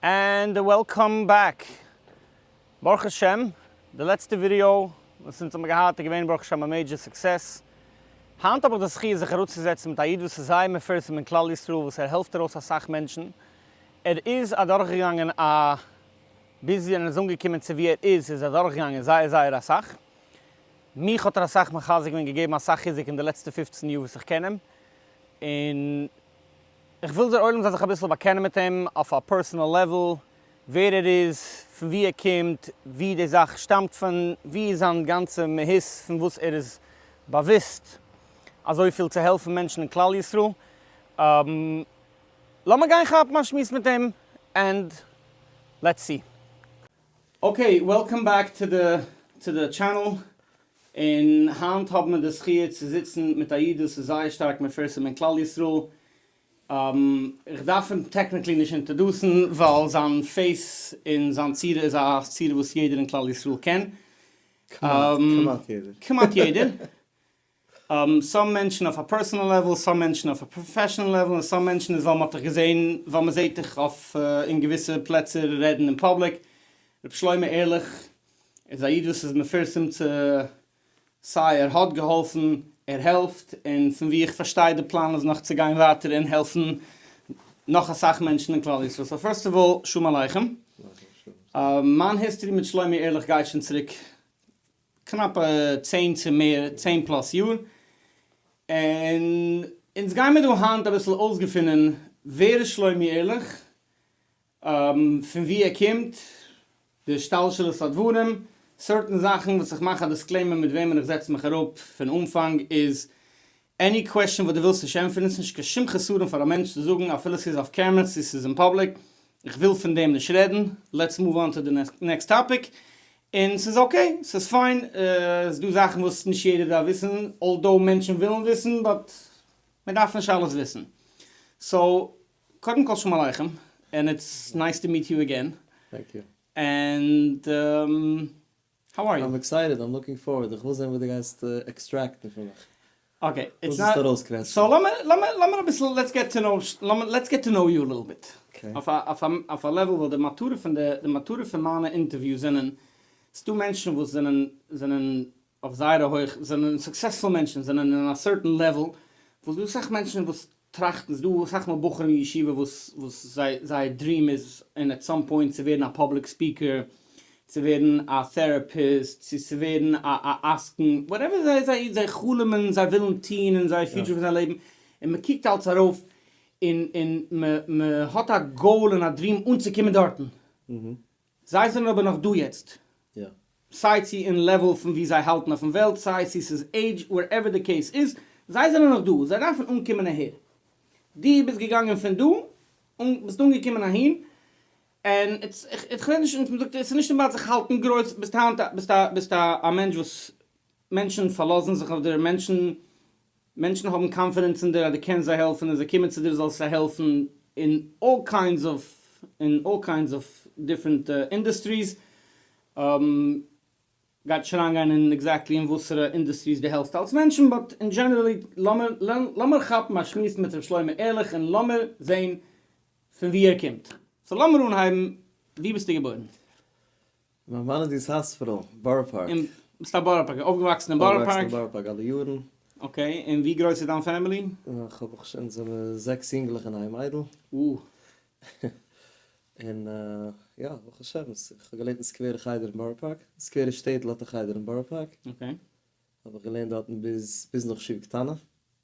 ענד וועלקאם בעק! ברוך השם די לעצטע ווידעא וואס אונז האבן געהאט איז געווען ברוך השם א מעידזשער סוקסעס. היינט האב איך די זכי' זיך אראפצוזעצן מיט א איד וואס איז זייער מפורסם אין כלל ישראל וואס ער העלפט ארויס אסאך מענטשן. ער איז אדורכגעגאנגען א ביז ווען ער איז אנגעקומען צו ווי ער איז איז ער אדורכגעגאנגען זייער זייער אסאך. מיך האט ער אסאך מחזק געווען געגעבן אסאך חיזוק אין די לעצטע פֿופֿצן יאר וואס איך קען אים, און איך וויל דער עולם זאל זיך אביסל באקענען מיט אים אויף א פערסאנעל לעוול, ווער ער איז, פון וואו ער קומט, וואו די זאך שטאמט פון, וואו איז זיין גאנצע מהות פון וואס ער איז באוואוסט אזויפיל צו העלפן מענטשן אין כלל ישראל, לאמיר גיין כאפן א שמועס מיט אים ענד לעטס סי. אקעי, וועלקאם בעק טו די טו די טשענעל, און היינט האבן מיר די זכי' צו זיצן מיט א איד וואס איז זייער שטארק מפורסם אין כלל ישראל, איך דארף אים טעקניקלי נישט אינטערדוסן ווייל זיין פעיס און זיין צורה איז א צורה וואס יעדער אין כלל ישראל קען, כמעט יעדער. סאם מענטשן אויף א פערסאנעל לעוועל, סאם מענטשן אויף א פראפעשאנעל לעוועל, און סאם מענטשן איז ווייל מ'האט דיך געזען, ווייל מ'זעט דיך אויף אין געוויסע פלעצער רעדן אין פאבליק. ר' שלמה ערליך איז א איד וואס איז מפורסם צו סיי ער האט געהאלפן, ער העלפט, און פון ווי איך פארשטיי די פלאן איז נאך צו גיין ווייטער און העלפן נאך אסאך מענטשן אין כלל ישראל. סאו פירסט אוו אלל שלום עליכם. מיין היסטארי מיט שלמה ערליך גייט שוין צוריק קנאפע צען צו מער צען פלאס יאר, און אונז גיימער דא היינט אביסל אויסגעפונען ווער איז שלומי ערליך, פון ווי ער קומט, די השתלשלות הדברים, סארטן זאכן וואס איך מאך א דיסקלעימער מיט וועמען איך זעץ מיך אראפ פון אנפאנג איז עני קוועשן וואס דו ווילסט נישט ענטפערן איז נישט קיין שום חסרון פאר א מענטש צו זאגן אפילו ס'איז אויף קעמרע צו ס'איז אין פאבליק איך וויל פון דעם נישט רעדן לעטס מאוו אן טו די נעקסט טאפיק און ס'איז אקעי ס'איז פיין ס'איז דא זאכן וואס נישט יעדער דארף וויסן אלדאו מענטשן ווילן וויסן באט מ'דארף נישט אלעס וויסן סאו קודם כל שלום עליכם און איטס נייס טו מיעט יו אגעין און. האו אר יו? איים עקסייטעד, איים לוקינג פארווערד, איך וויל זען וואס דו גייסט עקסטרעקטן פון מיך, וואס וועסטו ארויסקוועטשן. סאו לאמיר לאמיר אביסל לעטס געט טו נאו לעטס געט טו נאו יו א ליטל ביט, אויף א לעוועל, ווייל די מטרה פון די די מטרה פון מיינע אינטערוויוס זענען, ס'דא מענטשן וואס זענען זענען אויף זייערע הויכע זענען סוקסעספול מענטשן, זענען אין א סערטען לעוועל, וואס דא איז אסאך מענטשן וואס טראכטן, ס'דא אסאך מאל בחורים אין ישיבה וואס וואס זיי זייער דריעם איז אין עט סאם פוינט צו ווערן א פאבליק ספיקער, צו ווערן א טעראפיסט, צו צו ווערן א א עסקן, וואטעווער זיי זיי זיי חלומ'ן, זיי ווילן טוהן אין זייער פיוטשער פון זייער לעבן, און מען קוקט אלץ ארויף און און מען מען האט א גאול און א דריעם אנצוקומען דארטן, זיי זענען אבער נאך דא יעצט. סיי צו אין לעוועל פון ווי זיי האלטן אויפן וועלט, סיי צו ס'איז עידזש, ווערעווער די קעיס איז, זיי זענען נאך דא, זיי דארפן אנקומען אהער. דו ביסט געגאנגען פון דא, און ביסט אנגעקומען אהין, און איך רעד נישט, און מ'זאגט ס'איז נישט אינבאלד זיך האלטן גרויס, ביסט היינט א, ביסט א, ביסט א מענטש וואס מענטשן פארלאזן זיך אויף דיר, מענטשן מענטשן האבן קאנפידענס אין דיר אז דו קענסט זיי העלפן און זיי קומען צו דיר זאלסט זיי העלפן אין אלל קיינדס אוו אין אלל קיינדס אוו דיפרענט אינדוסטריס, גייט נישט אריינגיין אין עקזעקטלי אין וואסערע אינדוסטריס דו העלפסט אלס מענטשן באט אין דזשענערעלי לאמיר לאמיר כאפן א שמועס מיט ר' שלמה ערליך און לאמיר זעהן פון וואו ער קומט. סאו לאמיר אנהייבן וואו ביסטו געבוירן? וואו וואוינען די סאספרא? בארא פארק? אין סתם בארא פארק? אויפגעוואקסן אין בארא פארק? אויפגעוואקסן אין בארא פארק אלע יארן. אקעי, און ווי גרויס איז דיין פעמילי? איך האב איך אונז זעמיר זעקס יונגלעך און איין מיידל. אוה. און יא ברוך השם איך האב געלערנט אין סקווערע חדר אין בארא פארק, סקווערע שטעטל האט א חדר אין בארא פארק. אקעי. האב איך געלערנט דארטן ביז ביז נאך שו ע קטנה.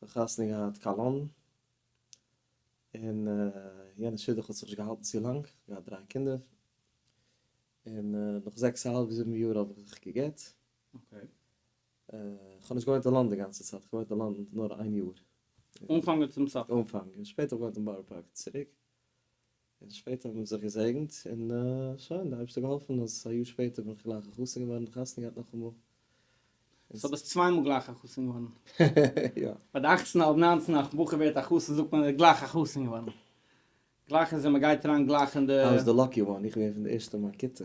כ'האב חתונה געהאט קאלאן, און יענע שידוך האט זיך נישט געהאלטן צו לאנג, כ'האב געהאט דריי קינדער, און נאך זעקס א האלב זיבן יאר האב איך זיך גע'גט. כ'האב נישט געוואוינט אין לאנדאן די גאנצע צייט, כ'האב געוואוינט אין לאנדאן נאר איין יאר. אנפאנג און צום סוף. אנפאנג, און שפעטער האב איך געוואוינט אין בארא פארק צוריק. און שפעטער האט מען זיך געזעגנט און שוין, די אייבערשטער האט געהאלפן אז א יאר שפעטער בין איך גלייך א חתן געווארן און חתונה געהאט נאכאמאל. סאו ביסט צוויי מאל גלייך א חתן געווארן? יא. ביי די אכצן אדער ניינצן אז א בחור ווערט א חתן זאגט מען ער איז גלייך א חתן געווארן. גלייך איז ווען מען גייט אריין גלייך אין די. איי וואס די לאקי וואן, איך בין געווען פון די ערשטע אין מיין כיתה.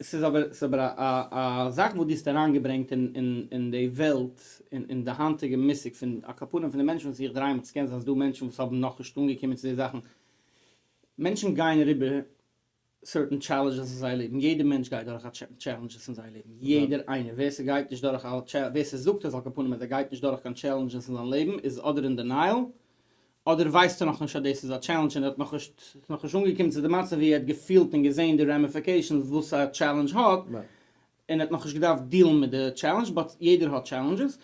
עס איז אבער עס איז אבער א א זאך וואס דו האסט אריינגעברענגט אין אין די וועלט און אין די היינטיגע מושג פון על כפנים פון די מענטשן וואס איך דריי מיך, עס קען זיין אז ס'דא מענטשן וואס האבן נאכנישט אנגעקומען צו די זאכן, מענטשן גייען אריבער סערטען טשעלענדזשעס אין זייער לעבן, יעדער מענטש גייט דורך א טשעלענדזשעס אין זייער לעבן, יעדער איינער, ווער ס'גייט נישט דורך א טשעלענדזש, ווער ס'זאגט אז על כפנים אז ער גייט נישט דורך קיין טשעלענדזשעס אין זיין לעבן איז אדער אין דענייעל אדער ווייסט ער נאכנישט אז דאס איז א טשעלענדזש און ער האט נאכנישט ס'איז נאכנישט אנגעקומען צו די מצב ווי ער האט געפילט און געזען די רעמעפיקעישאנס וואס א טשעלענדזש האט און ער האט נאכנישט געדארפט דילן מיט די טשעלענדזש באט יעדער האט טשעלענדזשעס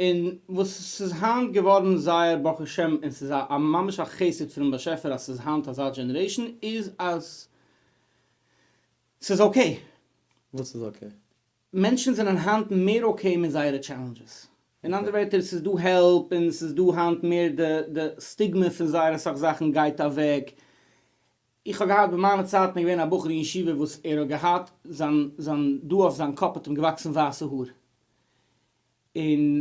און וואס ס'איז היינט געווארן זייער ברוך השם און ס'איז א ממש א חסד פונעם באשעפער אז ס'איז היינט אזא דזשענערעישאן איז אז ס'איז אקעי. וואס איז אקעי? מענטשן זענען היינט מער אקעי מיט זייערע טשעלענדזשעס. אין אנדערע ווערטער, ס'איז דא העלפ און ס'איז דא היינט מער די די סטיגמע פון זייער אסאך זאכן גייט אוועק. איך האב געהאט ביי מיינע צייטן איז געווען א בחור אין ישיבה וואס ער האט געהאט זיין זיין דא אויף זיין קאפ האט אים געוואקסן ווייסע האר און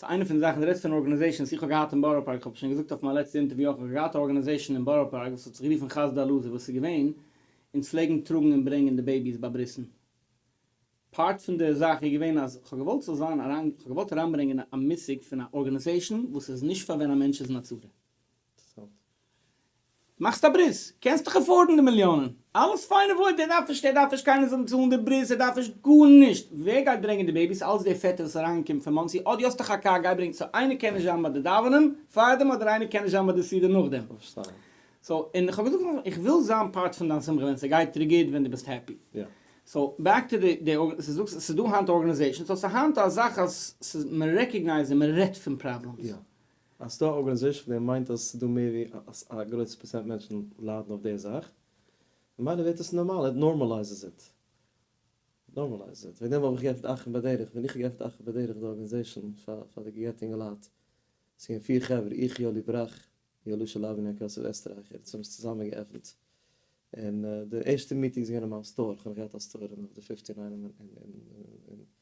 סאיז איינע פון די זאכן, די רעדסט פון ארגענעזעישאנס, איך האב געהאט אין בארא פארק, כ'האב שוין געזאגט אויף מיין לעצטע אינטערוויא אויך, איך האב געהאט א ארגענעזעישאן אין בארא פארק וואס האט זיך גערופן חסדי אלעזר, וואס איז געווען, אונז פלעגן טראגן און ברענגען די בעיביס ביי ברית'ן, פארט פון די זאך איז געווען אז כ'האב געוואלט ס'זאל זיין, כ'האב געוואלט אריינברענגען א מושג פון א ארגענעזעישאן וואס איז נישט פאר ווען א מענטש איז אין א צרה, מאכסט א ברית, קענסט דאך עפארדן די מיליאנען, אלעס פיין און וואויל, ער דארף נישט, ער דארף נישט קיינער זאל אים צאלן די ברית, ער דארף נישט גארנישט, ווער גייט ברענגען די בעיביס, אלץ דער פעטער וואס איז אריינגעקומען פון מאנסי, אט די האסט דאך א קאר, גיי ברענג, סאו איינער קען נישט זיין ביי די דאווענען פארדעם אדער איינער קען נישט זיין ביי די סעודה נאכדעם, סאו און כ'האב געזאגט נאכדעם, איך וויל זיין פארט פון דיין שמחה ווען ס'גייט דיר גוט ווען דו ביסט העפי, סאו בעק טו די, ס'איז דא היינט ארגענעזעישאנס, סאו ס'היינט אזאך אז מ'רעקאגנייזט און מ'רעדט פון פראבלעמס. אז ס'דא א ארגאניזעישן פון דעם מיינט אז ס'דא מער ווי אז א גרויסע פראצענט מענטשן ליידן אויף די זאך, ממילא ווערט עס נארמאל, איט נארמאלייזעס איט. נארמאלייזעס איט. וועגן דעם האב איך געעפנט אחים בדרך, ווען איך האב געעפנט אחים בדרך די ארגאניזעישן פאר פאר די גע'גט'ע יונגע לייט, ס'איז געווען פיר חברה, איך, יואלי בראך, יואלי שלאב און יעקב יוסף עסטרייכער, אונז האבן עס צוזאמען געעפנט, און די ערשטע מיטינגס איז געווען אין מיין סטאר, כ'האב נאך געהאט א סטאר און אויף די פיפטי ניין און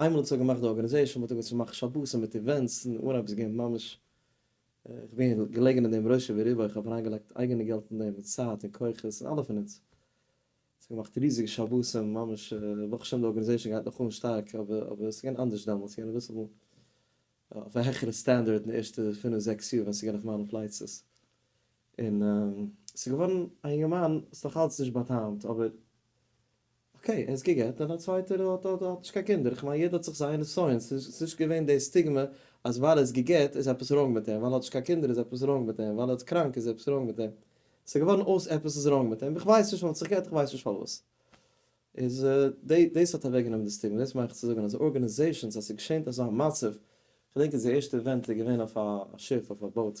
איינמאל האט זיך געמאכט די ארגענעזעשאן וואלט איך געוואלט מאכן שבת מיט איווענטס און אן עפעס געבן ממש איך בין געלעגן אין דעם ראשי וריבו איך האב אריינגעלייגט אייגענע געלט אין דעם און צייט און כוחות און אלע פון אונז און ס'האט געמאכט ריזיגע שבתים ממש ברוך השם די ארגענעזעשאן גייט נאך אן שטארק אבער אבער ס'איז געווען אנדערש דעמאלטס ס'איז געווען אביסל אויף א העכערע סטענדערד אין די ערשטע פינף זעקס יאר ווען ס'איז געווען אויף מיינע פלייצעס און ס'איז געווארן א יונגערמאן ס'איז נאך אלץ נישט באטאמט אבער. אקעי, ער איז גע'גט'ט און א צווייטער האט נישט קיין קינדער, איך מיין יעדער האט זיך זיינע נסיון, ס'איז נישט געווען די סטיגמא אז ווייל ער איז גע'גט'ט איז עפעס ראנג מיט אים, ווייל ער האט נישט קיין קינדער איז עפעס ראנג מיט אים, ווייל ער איז קראנק איז עפעס ראנג מיט אים, ס'איז געווארן אויס עפעס איז ראנג מיט אים, איך ווייס נישט, מען האט זיך גע'גט'ט איך ווייס נישט פארוואס, איז דאס האט אוועק גענומען די סטיגמא, דאס מיין איך צו זאגן אז ארגאניזעישאנס אז ס'געשענט אזא מצב, כ'דענק אז די ערשטע איווענט איז געווען אויף א שיף אויף א באוט,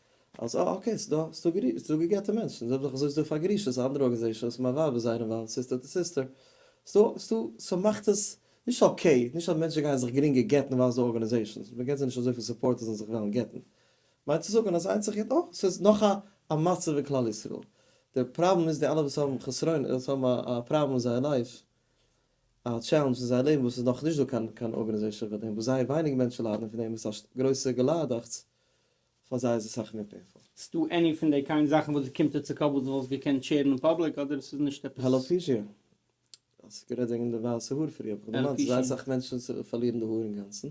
אלס אה אקעי ס'איז דא ס'איז דא גע'גט'ע מענטשן זאג איך אזוי איז דא פאר גרושות אנדערע ארגענעזעישאנס מיין ווייב איז זייער אינוואלווד סיסטער טו סיסטער ס'איז דא ס'מאכט עס נישט אקעי נישט אז מענטשן גייען זיך גרינגער גט'ן ווייל ס'דא ארגענעזעישאנס מ'געט זיי נישט אזויפיל סופארט אז זיי זאלן זיך וועלן גט'ן מיינט צו זאגן אז איינס זיך גט אויך ס'איז נאך א א מצב אין כלל ישראל די פראבלעם איז די אלע וואס האבן חסרונות וואס האבן א א פראבלעם אין זייער לייף א טשעלענדזש אין זייער לעבן וואס ס'איז נאך נישט דא קיין קיין ארגענעזעישאן פאר דעם וואס זייער ווייניג מענטשן ליידן פון דעם און ס'איז א גרויסע געליידאכטס פאר זיי איז עס סאך מער פעינפול. ס'דא עני פון דעי קיינד זאכן וואס די קומט דיר צו קאפ וואס די וואלסט געקענט שערן אין פאבליק אדער ס'איז נישט עפעס? העלאפישיא, האסט גערעדט וועגן די ווייסע האר פריער, האב איך געמיינט ס'איז זייער אסאך מענטשן וואס פארלירן די האר אינגאנצן,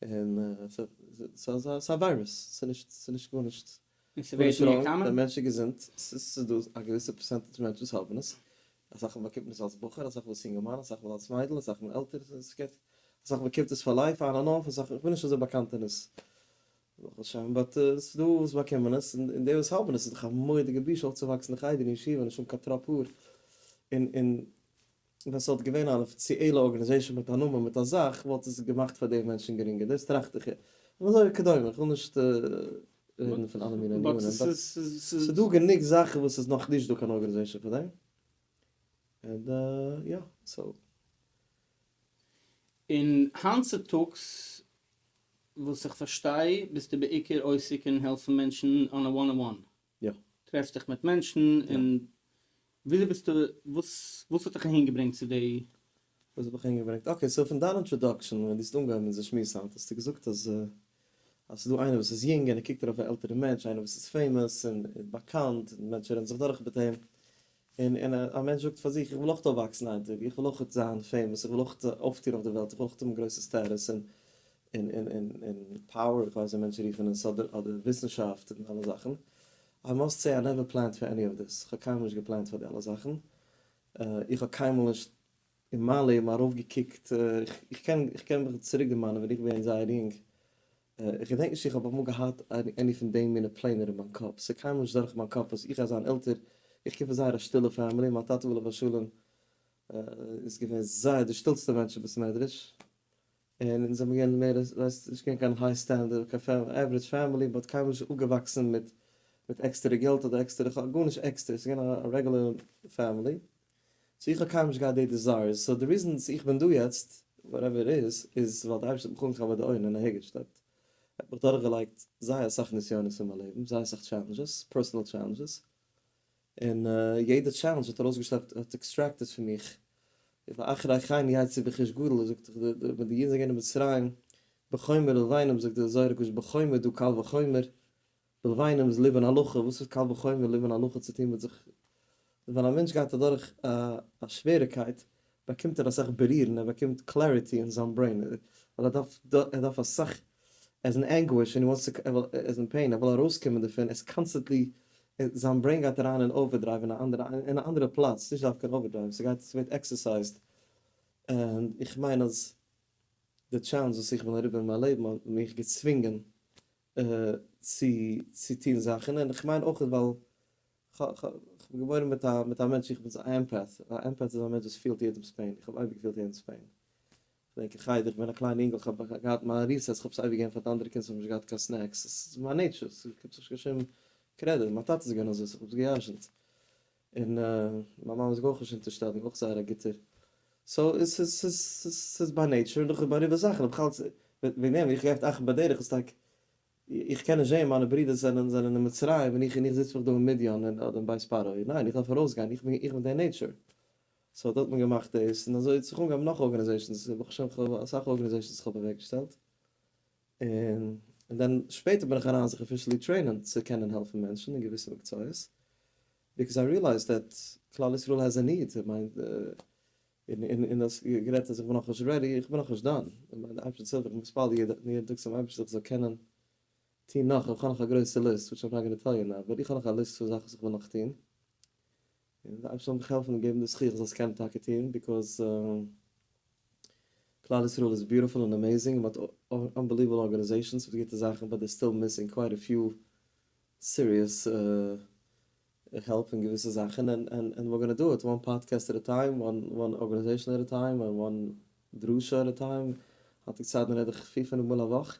און ס'איז א וויירוס, ס'איז נישט גארנישט ראנג, די מענטש איז געזונט, ס'איז דא א געוויסע פערסענטעדזש מענטש וואס האבן עס, אסאך מאל באקומט מען עס אלס בחור, אסאך מאל אלס יונגערמאן, אסאך מאל אלס מיידל, אסאך מאל עלטער, אסאך מאל קומט עס פאר לייף אן און אף, אסאך, כ'בין נישט אזוי באקאנט אין עס, ברוך השם, באט ס'איז דא וואס באקומען עס, און די וואס האבן עס, איז דאך א מורא'דיגע בושה אויפצואוואקסן אין חדר אין ישיבה נישט האבן קיין טראפ האר, און און ווען ס'וואלט געווען אן אפיציעלע ארגענעזעישאן מיט א נאמען מיט א זאך וואלט עס געמאכט פאר די מענטשן גרינגער, דאס טראכט איך, און אזוי וכדומה, כ'וויל נישט. רעדן פון אלע מיני ענינים, באט ס'איז דא גענוג זאכן וואס ס'איז נאך נישט דא קיין ארגענעזעישן פאר דעם, און יא, סאו. און היינט צוטאגס וואס איך פארשטיי ביסטו בעיקר עוסק אין העלפן מענטשן אן א וואן אן וואן, טרעפסט דיך מיט מענטשן און וויאזוי ביסטו וואס וואס האט דיך אהין געברענגט צו די. וואס האט מיך אהין געברענגט? אקעי סאו פון דיין אינטראדאקשען ווען דו האסט אנגעהויבן אונזער שמועס היינט האסטו געזאגט אז אז ס'איז דא איינער וואס איז יונג און ער קוקט ארויף א עלטערע מענטש איינער וואס איז פעימאס און איז באקאנט און מענטשן רעדן זיך דורך מיט אים און און א מענטש זאגט פאר זיך איך וויל אויך אויפוואקסן איין טאג איך וויל אויך זיין פעימאס איך וויל אויך אויפטוען אויף די וועלט איך וויל אויך האבן גרויסע סטעטוס און און און און פאוער איך ווייס ווי מענטשן רופן עס אדער אדער וויסנשאפט און אלע זאכן איי מאסט סעי איי נעווער פלענד פאר עני אוו דיס, איך האב קיינמאל נישט געפלענט פאר די אלע זאכן, איך האב קיינמאל נישט אין מיין לעבן ארויף געקוקט, איך קען איך קען מיך צוריק דערמאנען ווען איך בין געווען זייער יונג, איך געדענק נישט צו איך האב אמאל געהאט עני פון די מינע פלענער אין מיין קאפ, ס'איז קיינמאל נישט דורך מיין קאפ אז איך גיי זיין עלטער, איך קום פון זייער א שטילע פעמילי, מיין טאטע עליו השלום איז געווען זייער דער שטילסטער מענטש אין בית מדרש, און אונז זעמיר געווען מער לעס נישט געווען קיין היי סטענדערט קיין עווערעדזש פעמילי באט קיינמאל נישט אויפגעוואקסן מיט מיט עקסטערע געלט אדער עקסטערע כ ל גארנישט עקסטער ס'איז געווען א רעגולער פעמילי סאו איך האב קיינמאל נישט געהאט די דיזייערס סאו די ריזען וואס איך בין דא יעצט וואטעווער איט איז איז ווייל די אייבערשטער האט מיך אנגעכאפט ביי די אויערן און אהערגעשלעפט ער האט מיך דורכגעלייגט זייער אסאך נסיונות אין מיין לעבן זייער אסאך טשעלענדזשעס פערסאנעל טשעלענדזשעס און יעדע טשעלענדזש האט ארויסגעשלעפט האט עקסטרעקטעד פון מיך, איפה אחרי חיים יעיץ צו בכיש גדול, ער זאגט ווען די אידן זענען געווען אין מצרים בחומר ולבינם זאגט די זוהר הקדוש בחומר דו קל וחומר, ולבינם איז ליבון הלכה, וואס האט קל וחומר ליבון הלכה צו טון מיט זיך, ווען א מענטש גייט אדורך א שוועריקייט באקומט ער אסאך ברירן, ער באקומט קלעריטי אין זיין ברעין, ווייל ער דארף ער דארף אסאך, ער איז אין ענגוויש און ער וואנטס צו, ער וויל, ער איז אין פעין, ער וויל ארויסקומען דערפון, ער איז קאנסטענטלי, זיין ברעין גייט אריין אין אווערדרייוו אין א אנדערע, אין א אנדערע פלאץ, נישט דווקא אין אווערדרייוו, ס'גייט, ס'ווערט עקסערסייזד, און איך מיין אז די טשעלענדזש וואס איך בין אריבער אין מיין לעבן האט מיך געצווינגען צו צו טון זאכן, און איך מיין אויך ווייל כ'בין געבוירן מיט א מיט א מענטש איך בין א עמפאט, א עמפאט איז א מענטש וואס פילט יעדעמס פעין, איך האב אייביג געפילט יעדעמס פעין, כ'דענק אין חדר כ'בין א קליינע אינגל כ'האב געהאט מיין ריסעס כ'האב עס אייביג געגעבן פאר די אנדערע קינד ס'האבן נישט געהאט קיין סנעקס, ס'איז מיין נעיטשור ס'גיבט זיך נישט קיין שום קרעדיט, מיין טאטע איז געווען אזוי ס'האט זיך גע'ירש'נט. און מיין מאמע איז מיר אויך נישט אינטערסטעט און אויך זייער א גוטער סאו ס'איז ביי נעיטשער און נאך באריבער זאכן בכלל וועגן דעם איך געפט אכט ביי דרך איז טאקע איך קען נישט זעהן מיינע ברידער זענען זענען אין מצרים און איך און איך זיץ מיך דא אין מדיין און אדער אין בית פרעה ניין איך דארף ארויסגיין איך בין איך בין דער נעיטשער סאו דא האט מען געמאכט דאס און אזוי האט זיך אנגעהויבן נאך ארגענעזעישאנס ברוך השם כ'האב אסאך ארגענעזעישאנס וואס כ'האב אוועקגעשטעלט און דאן שפעטער בין איך אריין זיך אפישעלי טרעינען צו קענען העלפן מענטשן אין געוויסע מקצועות, ביקאוז איי ריעלייזד דעט כלל ישראל העז א ניד, איך מיין און און דאס גערעדט אז איך בין נאכנישט רעדי, איך בין נאכנישט דאן, איך מיין די אייבערשטער צילט איך בין מתפלל יעדן טאג צום אייבערשטער איך זאל קענען טון נאך, איך האב נאך א גרויסע ליסט וויטש איים נאט גאנע טעל יו נאו, אבער איך האב נאך א ליסט פון זאכן וואס איך וויל נאך טון. און די אייבערשטער זאל מיך העלפן און געבן די זכות איך זאל עס קענען טאקע טון, ביקאוז כלל ישראל איז ביוטיפול און אמעיזינג און מ'האט אנבעליוועבל ארגאניזעישאנס מיט גוטע זאכן באט דעי סטיל מיסינג קווייט א פיו סיריעס העלפ אין געוויסע זאכן ענד ווער גאנא דא איט וואן פאדקעסט עט א טיים, וואן ארגאניזעישאן עט א טיים, וואן דרשה עט א טיים, היינטיגע צייטן רעד איך פֿיר פינף מאל א וואך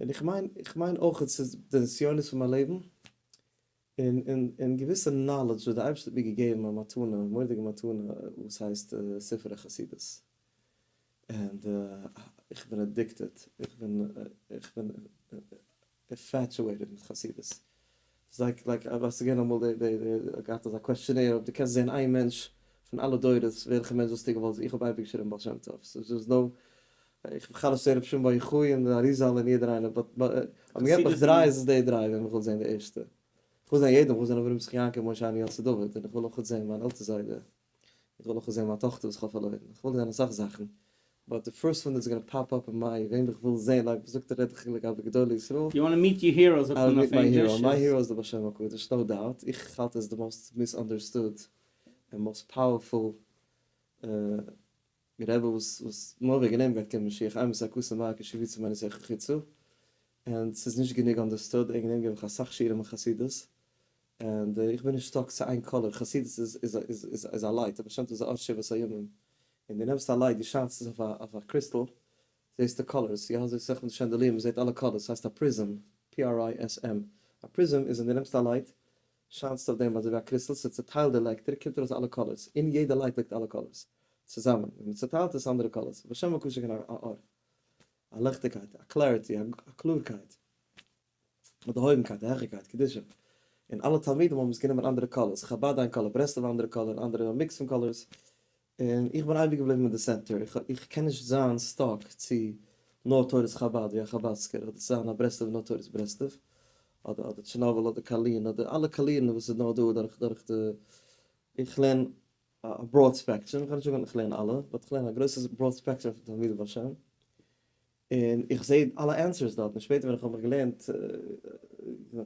און איך מיין איך מיין אויך ס'איז די נסיונות פון מיין לעבן, און און און געוויסע נאלעדזש וואס די אייבערשטער האט מיר געגעבן א מתנה, מורא'דיגע מתנה וואס הייסט ספרי חסידות, ענד איך בין אדיקטעד, איך בין איך בין אינפעטואעיטעד מיט חסידות, זייג לייק אויב האסט געווען אמאל די די די געהאט אזא קוועשטשענעיר אויב דו קענסט זעהן איין מענטש פון אלע דורות וועלכע מענטש וואלסטו געוואלט זי איך האב אייביג געשריבן בעל שם טוב סאיז דאס נאו איך האב בכלל נישט צעהן רבי שמעון בר יוחאי און די אריז ל און יעדער איינער באט אויב מען געבט מיך דריי איז עס די דריי וועם איך וויל זעהן די ערשטע איך וויל זעהן יעדעם איך וויל זעהן אברהם יצחק יעקב משה אהרן יוסף דוד און איך וויל אויך זעהן מיין עלטער זיידע איך וויל אויך זען מיין טאכטער וואס כ'האב פארלוירן, איך וויל זען אסאך זאכן, באט די פירסט וואן איז גאנא פאפ אפ אין מיי וועם איך וויל זען לייק וואס זאגט דער רעדעכיל לגבי גדולי ישראל? יו וואנט מיט יור הירא זאגט מען אויף ענגליש. מיי הירא איז די בעל שם הקדוש נאו דאוט, איך האלט ער איז די מאסט מיסאנדערסטוד און מאסט פאוערפול. די רבי וואס וואס מוהר א גענעמט וועט קומען משיח אמת א כוס מים כשיבוצו מען עס איך חיצו ענד ס'איז נישט גענוג אנדערסטוד ער גענעמט גיב איך אסאך שיעורים אין חסידות ענד איך בין נישט סטאק צו איין קאלער חסידות איז איז איז איז איז א לייט באשעמט אויף די ארט שבעת הימים און די נעמסט א לייט די שיינטס עס אויף א אויף א קריסטעל זעסטו קאלערס יא אזוי סאך מיט די שענדעליר מען זעט אלע קאלערס ס'הייסט א פריזם פי אר איי עס עם א פריזם איז ווען די נעמסט א לייט שיינסט אויף דעם אזויווי א קריסטל, ס'איז צוטיילט די לעקטער קומט ארויס אלע קאלערס, אין יעדע לייט ליגט אלע קאלערס צוזאמען, ווען מ'צוטיילט איז אנדערע קאלערס, בשם מקושקע א אור, א ליכטיגקייט, א קלעריטי, א קלארקייט, א דערהויבנקייט, א העכערקייט, קדושה, און אלע תלמידים האבן עס גענומען אנדערע קאלערס, חבד איין קאלער, ברסלב א אנדערע קאלער, אנדערע א מיקס פון קאלערס, און איך בין אייביג געבליבן אין די סענטער, איך קען נישט זיין סטאק צו נאר תורת חבד ווי א חבדסקער, אדער צו זיין א ברסלב'ער נאר תורת ברסלב, אדער אדער טשערנאביל אדער קארלין אדער אלע קאלירן וואס איז נאר דא דורך דורך די, איך לערן א בראד ספעקטרום, איך גיי נישט זאגן איך לערן אלע, באט איך לערן א גרויסע בראד ספעקטרום פון תלמידי בעל שם, און איך זע אלע ענסערס דארט, און שפעטער ווען איך האב מיך געלערנט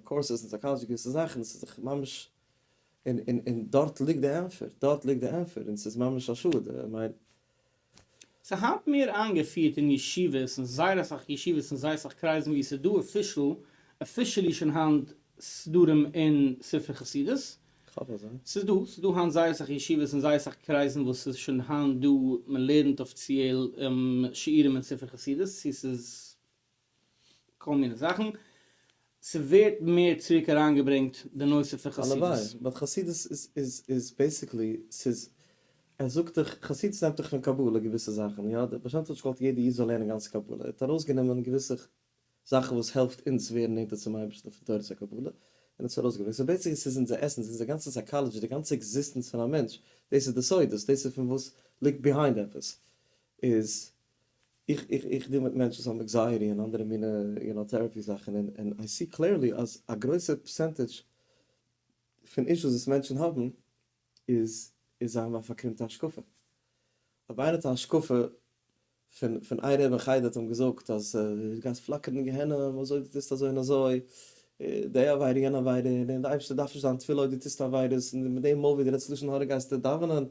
קורסעס אין סייקאלאדזשי געוויסע זאכן, עס איז זיך ממש, און און און דארט ליגט די ענפער, דארט ליגט די ענפער, און עס איז ממש א שאד, איך מיין. ס'איז היינט מער איינגעפירט אין ישיבות, אין זייער אסאך ישיבות און זייער אסאך קרייזן וואו עס איז דא אפישעל, אפישעלי שוין היינט סדרים און ספרי חסידות, ס'איז דא, ס'איז דא היינט זייער אסאך ישיבות און זייער אסאך קרייזן וואס ס'איז שוין היינט דא, מען לערנט אפיציעל שיעורים אין ספר חסידות, צו ס'איז כל מיני זאכן, ס'ווערט מער צוריק אריינגעברענגט די נושא פון חסידות. הלוואי, באט חסידות איז בעיסיקלי, ס'איז, ער זאגט דיך, חסידות נעמט דיך פון קבלה געוויסע זאכן, יא, דער בעל שם טוב האט נישט געוואלט יעדער איד זאל לערנען גאנץ קבלה, ער האט ארויסגענומען געוויסע זאכן וואס העלפט אונז ווערן נענטער צום אייבערשטן פון תורת הקבלה, און האט עס ארויסגעברענגט. סאו בעיסיקלי ס'איז אונזער עסענס, אונזער גאנצע סייקאלעדזשי, די גאנצע עקזיסטענץ פון א מענטש, דאס איז די סודות, דאס איז פון וואס ליגט ביהיינד עפעס, איז איך איך איך דיל מיט מענטשן וואס האבן עקזייעטי און אנדערע מינע יו נאו טערעפי זאכן, און און איי סי קלעירלי אז א גרויסע פערסענטעדזש פון אישוס וואס מענטשן האבן איז איז זיי האבן א פארקרומטע השקפה. אויב איינער האט א השקפה פון פון איין רב אין חדר האט אים געזאגט אז דו גייסט פלאקערן אין גיהנום אזוי דו טוסט אזוי און אזוי, די עבירה און יענע עבירה, און די אייבערשטער דארף נישט דיין תפילה אויב דו טוסט עבירות, און מיט דעם מויל ווי דו רעדסט לשון הרע גייסטו דאווענען,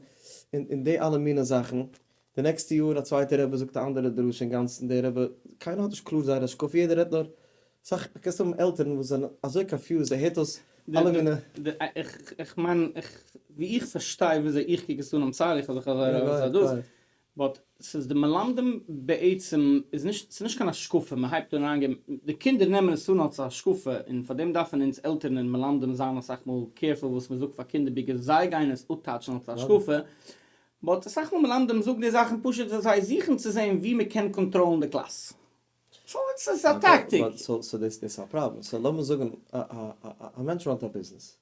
און און די אלע מיני זאכן, די נעקסטע יאר א צווייטע רבי זאגט א אנדערע דרשה אינגאנצן די רבי, קיינער האט נישט קלאר זייער השקפה יעדער רעדט נאר, סאך קענסט האבן עלטערן וואס זענען אזוי קאנפיוזד ער הערט אויס אלע מיני. איך מיין ווי איך פארשטיי וויאזוי איך קוק עס אן איים סארי איך האב זיך אזוי ארויס גערעדט, באט ס'איז די מלמדים בעצם איז נישט ס'איז נישט קיין השקפה מען הייבט אן אריינגעבן די קינדער נעמען עס אן אלס א השקפה און פאר דעם דארפן אונז עלטערן און מלמדים זיין אסאך מאל קעירפול וואס מען זאגט פאר קינדער ביגער זיי גייען עס אפטייטשן אלס א השקפה באט אסאך מאל מלמדים זאגן די זאכן פשוט ווייל זיי זוכן צו זען ווי מען קען קאנטראלן די קלאס סאו עס איז א טאקטיק. סאו דאס איז א פראבלעם סאו לאמיר זאגן א מענטש ראנט א ביזנעס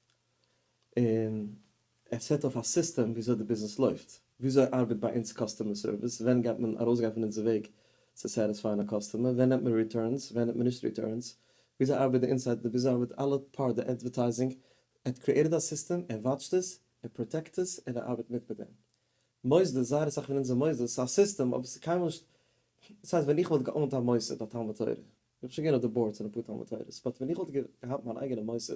און ער סעט אויף א סיסטעם וויאזוי די ביזנעס לויפט, וויאזוי ארבעט ביי אונז קאסטומער סערוויס, ווען גייט מען ארויסגיין פון אונזער וועג צו סעטיספייען א קאסטומער, ווען נעמט מען ריטורנס, ווען נעמט מען נישט ריטורנס, וויאזוי ארבעט די אינסייד, וויאזוי ארבעט אלע פארט, די אדווערטייזינג, ער האט קריעטעד א סיסטעם, ער וואטשט עס, ער פראטעקט עס, און ער ארבעט מיט מיט דעם. מוסדות, זייער אסאך פון אונזער מוסדות, ס'איז א סיסטעם אבער ס'איז קיינמאל נישט, דאס הייסט ווען איך וואלט געאונט א מוסד, א תלמוד תורה, איך בין שוין געווען אויף די באורדס פון אפאר תלמוד תורה'ס, באט ווען איך וואלט געהאט מיין אייגענע מוסד,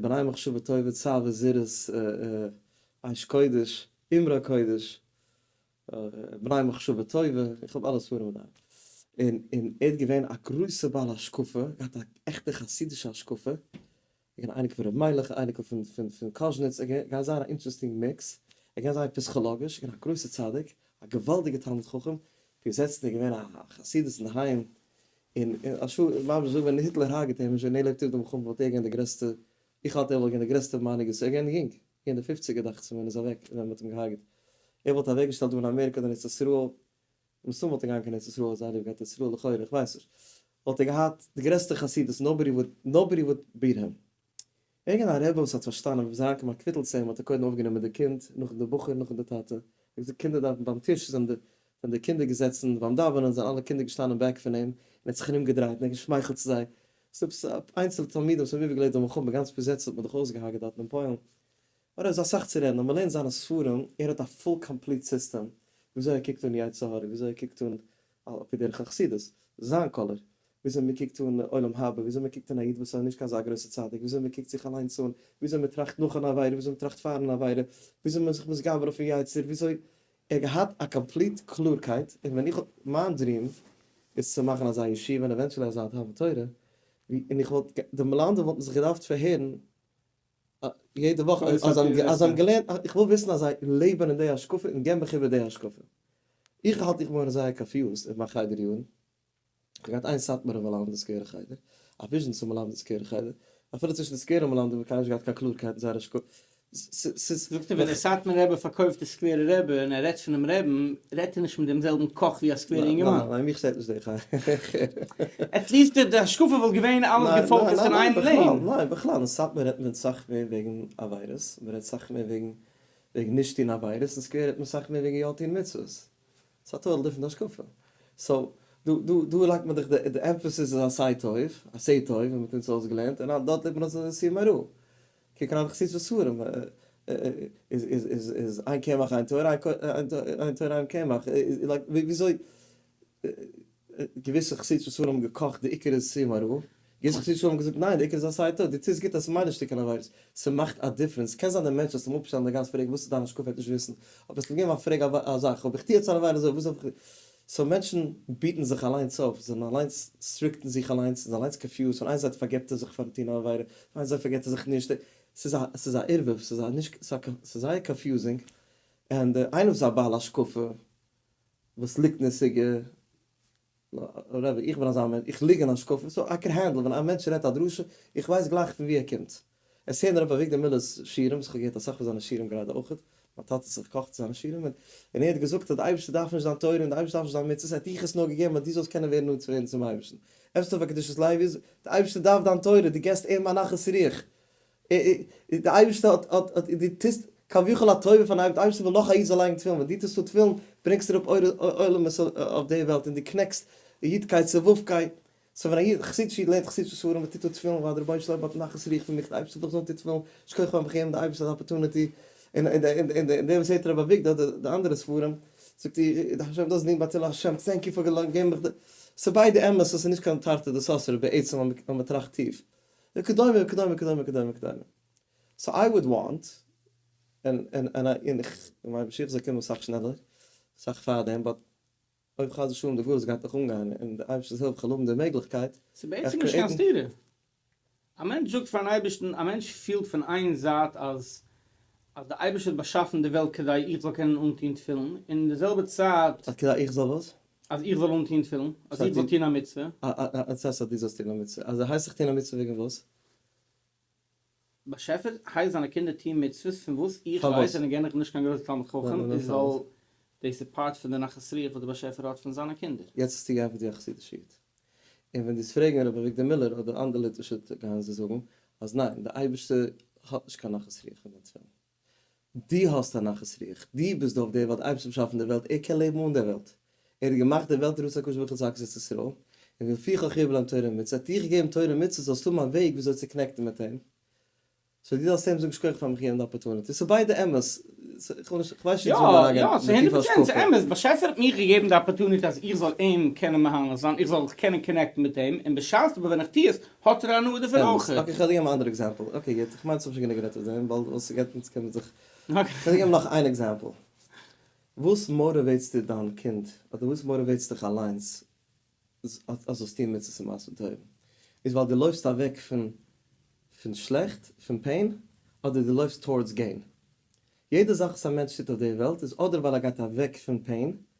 בני מחשבה טובה צב ע זרז ע אש קודש אמרה קודש בני מחשבה טובה איך האב אלע ספרים דא און און ער האט געווען א גרויסע בעל השקפה געהאט א עכטע חסידישע השקפה געווען א אייניקל פון ר' מיילעך א אייניקל פון פון פון קאזשניץ ער איז געווען זייער א אינטערעסטינג מיקס ער געווען זייער פיסכאלאגיש געווען א גרויסע צדיק א געוואלדיגע תלמיד חכם געזעצט ער געווען א חסידות אינדערהיים און א ש ס ממש אזוי ווען היטלער הרג'ט אים און זשענעל עלעקטירט די מלחמה וואלט ער געווען די גרעסטע, איך האלט ער וואלט געווען די גרעסטע מנהיג עס איז ער געווען יונג, געווען אין די פופציגער דאכצעך מיר ווען ער איז אוועק ווען מען האט אים געהארגעט, ער וואלט אוועק געשטעלט דא אין אמעריקא אדער אין ארץ ישראל, מן הסתם וואלט ער געהאנגען אין ארץ ישראל אויב זיי האבן ליב געהאט ארץ ישראל לכאורה איך ווייס נישט, וואלט ער געהאט די גרעסטע חסידות נאובאדי וואלט נאובאדי וואלט ביעט הים. וועגן א רבי וואס האט פארשטאנען ווען זיין כמעט קוויטלט צו אים האט ער קודם אויפגענומען די קינד נאכן די בחור נאכן די טאטע ער האט געזאגט קינדער דארפן ביים טיש זענען די ווען די קינדער געזעצן ביים דאווענען זענען אלע קינדער געשטאנען בעק פון אים און ער האט זיך ארום געדרייט און ער האט געשמייכלט צו זיי ס'איז עפעס א איינצעלע תלמיד וואס האבן איבערגעלעבט די מלחמה גאנץ פיזעצל האט מען דאך אויסגעהארגעט דארטן אין פוילן אוי דא איז דא אסאך צו רעדן אויב מען לערנט זיינע ספרים ער האט א פול קאמפליט סיסטעם וויאזוי ער קוקט אן יצר הרע וויאזוי ער קוקט אן על פי דרך החסידות, זיין קאלער, וויאזוי מען קוקט אן עולם הבא, וויאזוי מען קוקט אן א איד וואס איז נישט קיין אזא גרויסע צדיק, וויאזוי מען קוקט זיך אליינס אן, וויאזוי מען טראכט נאך אן עבירה, וויאזוי מען טראכט פארן עבירה, וויאזוי מען איז זיך מתגבר אויפן יצר, וויאזוי, ער האט געהאט א קאמפליט קלארקייט, און ווען איך האב, מיין דריעם איז צו מאכן אזא ישיבה און עווענטשעלי אזא אהבת תורה, ווי, און איך וואלט, די מלמדים וואלטן זיך געדארפט פארהערן יעדע וואך אז זיי האבן געלערנט, איך וויל וויסן אז זיי לעבן אין די השקפה און גיין בכיוון די השקפה. איך האלט איך בין געווארן זייער קאפיוזד אין מיין חדר יארן, איך האב געהאט איין סאטמארע מלמדי סקווערע חדר, א וויזשניצע מלמדי סקווערע חדר, אפילו צווישן די סקווערע מלמדים האב איך קיינמאל נישט געהאט קיין קלארקייט אין זייער השקפה. זאגט ער ווען דער סאטמארער רבי פארקויפט די סקווערע רבי און ער רעדט פונעם רעבן רעדט ער נישט מיט דעם זעלבן קאך ווי א סקווערע אינגערמאן? ניין, ניין, מיך שטערט נישט דער חלק. עטליעסט די השקפה וואלט געווען אלעס געפאוקעסט אין איין לעין. ניין, ניין, בכלל, אין סאטמאר רעדט מען סאך מער וועגן עבירות, מען רעדט סאך מער וועגן וועגן נישט טון עבירות, אין סקווער רעדט מען סאך מער וועגן יא טון מצוות. ס'איז א טאטאל דיפרענט השקפה. סאו, דא דא דא לייגט מען דאך די די עמפעסיס איז עשה טוב, עשה טוב, ווי מ'האט אונז אויסגעלערנט, און דארט לערנט מען אז עס איז איסור מרע. קוקן אויף די חסידות פון ספרים איז איין קמח איין תורה, איין תורה איין קמח, לייק וויאזוי געוויסע חסידות פון ספרים האבן געקאכט די עיקר איז סי' מרור, געוויסע חסידות פון ספרים האבן געזאגט ניין די עיקר איז עשי ת, די טוסט גוט אז ס'מיינט נישט שטיקל עבירות, ס'מאכט א דיפרענס, קען זיין די מענטש וועסט אים אפשטעלן די גאנץ פרעג וואס איז דיין השקפה ער וועט נישט וויסן, אבער וועסט אים געבן א פרעג א זאך, האב איך טו יעצט אן עבירה אזוי וואס דארף איך, סאו מענטשן ביטן זיך אליינס אויף, זיי זענען אליינס סטריקטן זיך אליינס, זענען אליינס קאנפיוזד, פאר איין זייט פארגעבט ער זיך פארן טון א עבירה, פאר איין זייט פארגעבט ער זיך נישט, ס'איז א ס'איז א ערבוב, ס'איז א נישט ס'איז זייער קאנפיוזינג, און דער איינער וואס איז א בעל השקפה וואס ליגט נשיגה, רעבי איך בין אזא מענטש איך ליג אין השקפה, סאו איי קען הענדל ווען א מענטש רעדט א דרשה, איך ווייס גלייך פון ווי ער קומט. עס הערן הרב אביגדור מיללער'ס שירים, איך האב געהערט אסאך פון זיינע שירים גראדע אויכעט, מיין טאטע האט זיך געקאכט צו זיינע שירים, און ער האט געזאגט אז די אייבערשטער דארף נישט דיין תורה און די אייבערשטער דארף נישט דיין מצוות, ער האט דיך עס נאר געגעבן אז דו זאלסט קענען ווערן נאנט צו ווערן צום אייבערשטן. עפעס טוב פאר קדושת לוי איז, די אייבערשטער דארף דיין תורה, דו געבסט אים א נחת רוח, די אייבערשטער האט האט האט, דו טוסט כביכול א טובה פארן אייבערשטן, די אייבערשטער וויל נאך א איד זאל לייגן תפילין, ווען דו טוסט אן תפילין ברענגסטו אראפ אור עולמות אויף די וועלט, און דו קנעקסט אידקייט צו וו ק. סאו ווען א איד, חסידישע איד, לערנט חסידישע ספרים וטוט דארט תפילין ווייל די רבונו של עולם האט נחת רוח פון מיך, די אייבערשטער האט דאך געזאגט טו תפילין, שכוח פארן באקומען די אייבערשטער די אפערטונעטי, און און דער וואס הערט הרב אביגדור אדער די אנדערע ספרים, זאגט איר איך דארף נישט דאס דינג ביי צלם השם, טענק יו פאר געבן מיך די, ס'איז ביידע אמת און ס'איז נישט קיין תרתי דסתרי בעצם ווען מ'טראכט טיף, וכדומה וכדומה וכדומה וכדומה וכדומה. סאו איי וואלד וואנט, און און און איך מיין משיח זאל קומען אסאך שנעלער, אסאך פארדעם, באט. אויב חס ושלום די ווירוס גייט נאך אנגיין און מיט די אייבערשטענס הילף כ'וועל האבן די מעגליכקייט, ס'איז בעצם נישט קיין סתירה. א מענטש זאגט פארן אייבערשטן, א מענטש פילט פון איין זייט אז אז די אייבערשטער האט באשאפן די וועלט כדי איך זאל קענען אנטון תפילין, און אין די זעלבע צייט. אז כדי איך זאל וואס? אז איך זאל אנטון תפילין, אז איך זאל טון א מצוה. א א א א צ ס אז דו זאלסט טון א מצוה, אז ער הייסט זיך טון א מצוה וועגן וואס? באשעפער, הייס זיינע קינדער טוהן מצוות פון וואס איך ווייס און גענעך בין נישט קיין גרויסער תלמיד חכם איז ווייל דאס איז פארט פון די נחת רוח וואס דער באשעפער האט פון זיינע קינדער. יעצט האסטו געענפערט ווי א חסידישע איד. און ווען דאס פרעגן ר' אביגדור מילער אדער אנדער ליטווישע גאון זיי זאגן אז ניין די אייבערשטער האט נישט קיין נחת רוח פון דיין תפילין. דו האסט א נחת רוח, דו ביסט דא אויף דער וועלט, אייבערשטער האט באשאפן דער וועלט, ער קען לעבן אן דער וועלט, ער האט געמאכט דער וועלט לראות הקדוש ברוך הוא צדקת את ישראל, און ולפיכך החיוב להם תורה ומצוות, ער האט דיך געגעבן תורה און מצוות זאלסט האבן א וועג וויאזוי צו קאנעקטן מיט אים, סאו דו זאלסט אים זאגן שכוח פארן מחי' אים די אפארטוניטי, ס'איז ביידע אמת, כ'ווייס נישט צו מיר אריינגיין אין די טיפע השקפה. אמת, באשעפער האט מיר געגעבן די אפארטוניטי אז איך זאל אים קענען מהנה זיין, איך זאל זיך קענען קאנעקטן מיט אים, און בשעת אבער ווען איך טו עס, האט ער א הנאה דערפון אמת. אויך. אקעי כ'וועל דיר געבן א אנדערע עקזעמפל. אקעי גוט. כ'מיין ס'האב שוין גענוג גערעדט אויף דעם ווייל וואס ס'געט אונז קען מען זיך. אקעי. כ'וועל דיר געבן נאך איין עקזעמפל. וואס מאטיוועיטס דיר דיין קינד אדער וואס מאטיוועיטס דיך אליינס אז זאלסט טון מצוות און מעשים טובים? איז ווייל דו לויפסט אוועק פון פון שלעכט, פון פעין, אדער דו לויפסט טאורדס געין? יעדע זאך וואס א מענטש טוט אויף די וועלט איז אדער ווייל ער גייט אוועק פון פעין,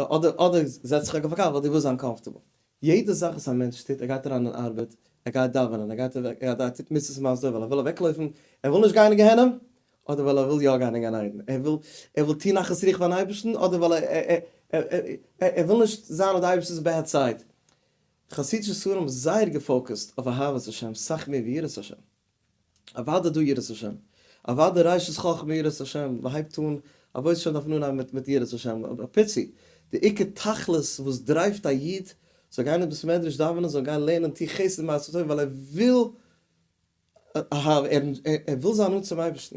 אדער אדער זעץ דיך אויף א קאר ווייל דו ווילסט זיין קאמפארטעבל. יעדע זאך וואס א מענטש טוט, ער גייט אריין אין ארבעט, ער גייט דאווענען, ער גייט אוועק, ער טוט מצוות מאסדער ווייל ער וויל אוועקלויפן, ער וויל נישט גיין אין גיהנום, אדער ווייל ער וויל יא גיין אין גן עדן, ער וויל ער וויל טון נחת רוח ביים אייבערשטן, אדער ווייל ער וויל נישט זיין אויף די אייבערשטענס בעד סייד. חסידישע ספרים זייער געפאוקעסט אויף אהבת השם סאך מער ווי יראת השם. אוודאי דא יראת השם, אוודאי ראשית חכמה יראת השם, מען הייבט אן א וואויס שוין דארף מען אנהייבן מיט יראת השם, א פיצי, די עיקר תכלית וואס דרייווט א איד זאל גיין אין בית מדרש דאווענען זאל גיין לערנען טו חסד מעשה טוב ווייל ער וויל ער וויל זיין נאנט צום אייבערשטן.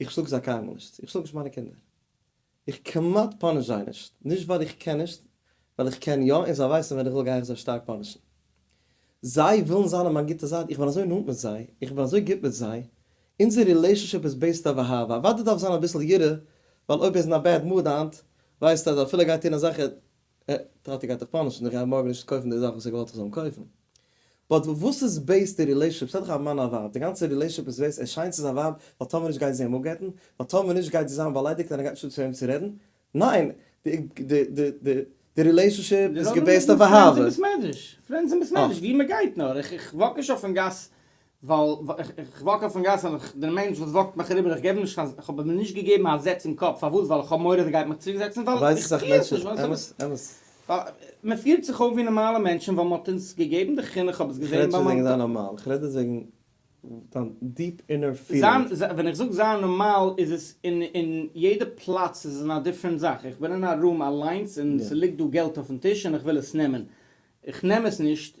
איך שלאג זיי קיינמאל נישט, איך שלאג נישט מיינע קינדער, איך כמעט פאניש זיי נישט, נישט ווייל איך קען נישט, ווייל איך קען יא און זיי ווייסן ווען איך וויל גיי איך זיי שטארק פאנישן. זיי ווילן זיין אויף מיין גוטע זייט, איך בין אזוי נאנט מיט זיי, איך בין אזוי גוט מיט זיי, אונזער רילעישאנשיפ איז בעיסד אויף אהבה, אוודאי דארף זיין אביסל יראה, ווייל אויב ער איז אין א בעד מוד היינט, ווייסט ער אז אפילו ער גייט טון אזעלכע ע כ האט ער געהאט תחפושת פון די רבי מארגן נישט צו קויפן די זאך וואס ער געוואלט איך זאל אים קויפן. באט וואס איז בעיס די רילעישענשיפ? ס'האט דאך א מאן א ווייב, די גאנצע רילעישענשיפ איז בעיס ער שיינט צו זיין ווייב ווייל טאמער נישט גייט זי אים אפגט'ן, ווייל טאמער נישט גייט זי זיין באליידיגט און ער גייט נישט האבן צו וועם צו רעדן. ניין! די רילעישענשיפ איז געבעיסט אויף אהבה. פרענדס און בעסמעדריש. פרענדס און בעסמעדריש ווי מ'גייט נאר. איך וואק נישט אויפן גאס ווייל איך וואק אויפן גאס און איך דער מענטש וואס וואקט מיך אריבער איך געב אים נישט קיין איך האב אים נישט געגעבן א זעץ אין קאפ פארוואס ווייל איך האב מורא אז ער גייט מיך צוריק זעצן ווייל איך פיל עס נישט אמת אמת. מען פירט זיך אויף ווי נארמאלע מענטשן ווייל מען האט אונז געגעבן די חינוך איך האב עס געזען ביי מיין. איך רעד נישט וועגן זיין נארמאל איך רעד יעצט וועגן דיין דיעפ אינער פילינג. זיין ווען איך זאג זיין נארמאל איז עס אין אין יעדע פלאץ איז אין א דיפרענט זאך איך בין אין א רום אליינס און ס'ליגט דא געלט אויפן טיש און איך וויל עס נעמען איך נעם עס נישט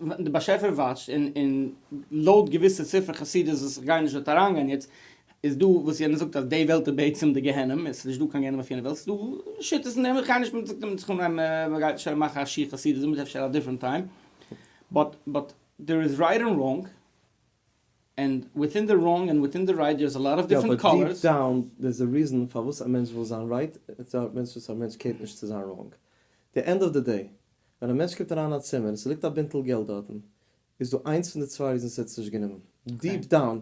ווען די באשעפער וואטשט און און לויט געוויסע ספרי חסידות וואס איך גיי נישט דארט אריינגיין יעצט איז דא וואס יענער זאגט אז די וועלט איז בעצם די גיהנום עס איז נישט דא קיין גיהנום אויף יענע וועלט עס איז דא שיטות אין דעם איך גיי נישט מיט דעם סכום אריין מען גייט אפשר מאכן א שיעור חסידות דערמיט אפשר א דיפרענט טיים באט באט דער איז רייט און ראנג און וויטין די ראנג און וויטין די רייט דער איז א לאט אוו יא דיפרענט אבער דיעפ קאלערס. דאון דער איז א ריזען פארוואס א מענטש וויל זיין רייט און א מענטש וואס א מענטש קערט נישט צו זיין ראנג די ענד אוו די דעי ווען א מענטש קומט אריין אין א צימער און ס'ליגט א בינטל געלט דארטן, איז דא איינס פון די צוויי ריזנס ער האט עס נישט גענומען. דיעפ דאון,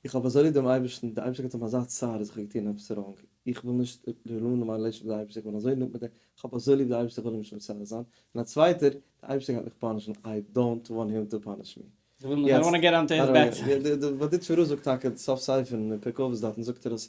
איך האב אזוי ליב דעם אייבערשטן, דער אייבערשטער געבט אים אזא צער אז איך האב געטון עפעס ראנג, איך וויל נישט ר'רולינען מיין רילעישאנשיפ מיט דער אייבערשטער, איך בין אזוי נאנט מיט אים, איך האב אזוי ליב דער אייבערשטער איך וויל אים נישט מצער זיין, און א צווייטער, דער אייבערשטער גייט מיך פאנישן, איי דאונט וואנט הים טו פאניש מי. איך וויל נישט, איי דאונט וואנט טו געט אנטו היס בעד סייד. די באדיטשווא ר' זאגט טאקע, די סוף ספר אין פרק אבות דאתן זאגט ער אז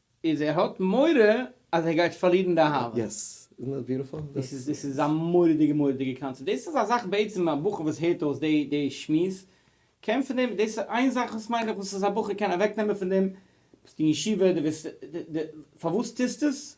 איז ער האט מורא אז ער גייט פארלירן די אהבה. יעס, איזנט דעט ביוטיפול? דאס איז דאס איז א מורא'דיגע מורא'דיגע קאנצעפט, דאס איז א זאך בעצם א בחור וואס הערט אויס די די שמועס קען פון דעם, דאס איז איין זאך וואס מיין איך וואס איז א בחור קען אוועק נעמען פון דעם, ביסט אין ישיבה די וועסט די די פארוואס טוסט עס?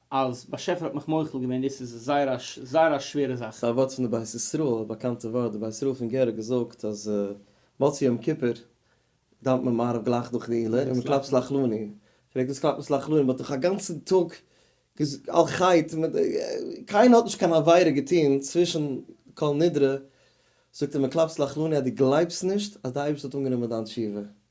אז באשעפער האט מיך מוחל געווען דאס איז זייער א זייער א שווערע זאך. ס'אווארט פון די בית ישראל, א באקאנטע ווארט, די בית ישראל פון גער האט געזאגט אז מוצאי יום כיפור דאוונט מען מעריב גלייך דורך די עולה און מען קלאפט סלחלוני, פרעגט וואס קלאפט מען סלחלוני, מ'האט דאך אגאנצן טאג על חטא, קיינער האט נישט קיין עבירה געטון צווישן כל נדרי, זאגט ער מען קלאפט סלחלוני אז דו גלייבסט נישט אז די אייבערשטער האט אנגענומען דיין תשובה.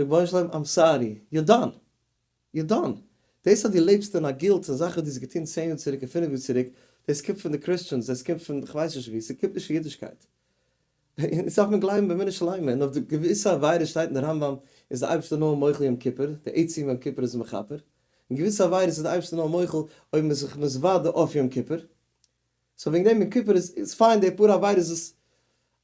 רבונו של עולם איים סארי, יו דאן! יו דאן! דאס אז דו לעבסט אין א גילט פון זאכן וואס דו האסט געטון צען יאר צוריק און פינף יאר צוריק, דאס קומט פון די קריסטשענס, דאס קומט פון כ'ווייס נישט וואו, ס'קומט נישט פון אידישקייט. אונז דארף מען גלייבן באמונה שלימה, און אויף די געוויסע עבירות שטייט אין די רמב ם איז די אייבערשטער נאר מוחל יום כיפור, די עצם יום כיפור איז מכפר, און געוויסע עבירות איז די אייבערשטער נאר מוחל אויב מ'איז זיך מתוודה אויף יום כיפור. סאו וועגן דעם יום כיפור איז פיין די פאר עבירות וואס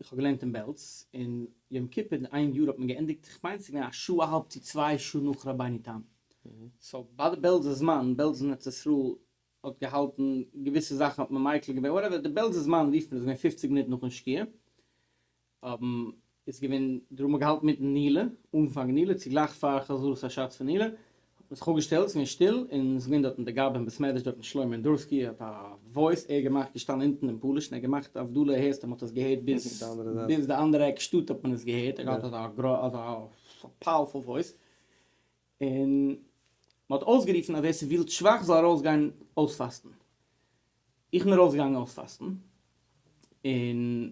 איך האב געלערנט אין בעלז, און יום כיפור די איין יאר האט מען געענדיגט, איך מיין ס'געווען א שעה אהאלב צו צוויי שעה נאך רבינו תם, סאו ביי די בעלזע זמן, בעלז און ארץ ישראל האט געהאלטן, געוויסע זאכן האט מען מיקל געווען, וואטעווער, די בעלזע זמן רופט מען עס געווען פופציג מינוט נאכן שקיעה, איז געווען, דא האט מען געהאלטן מיטן נילע, אנפאנג נילע, צוגלייך פאר חזרת השץ פון נילע, האט מען זיך אפגעשטעלט, ס'איז געווען שטיל, און ס'איז געווען דארטן די גאב ד אין בית מדרש דארטן שלמה אינדורסקי האט א וואויס ער האט געמאכט געשטאנען אונטן אין פאליש און ער האט געמאכט הבדלה הערסטו מען האט עס געהערט ביז ביז די אנדערע עק שטאט האט מען עס געהערט ער האט אזא אזא פאוערפול וואויס און מ'האט אויסגערופן אז ווער ס'ווילט שוואך זאל ארויסגיין אויספאסטן. איך בין ארויס געגאנגען אויספאסטן, און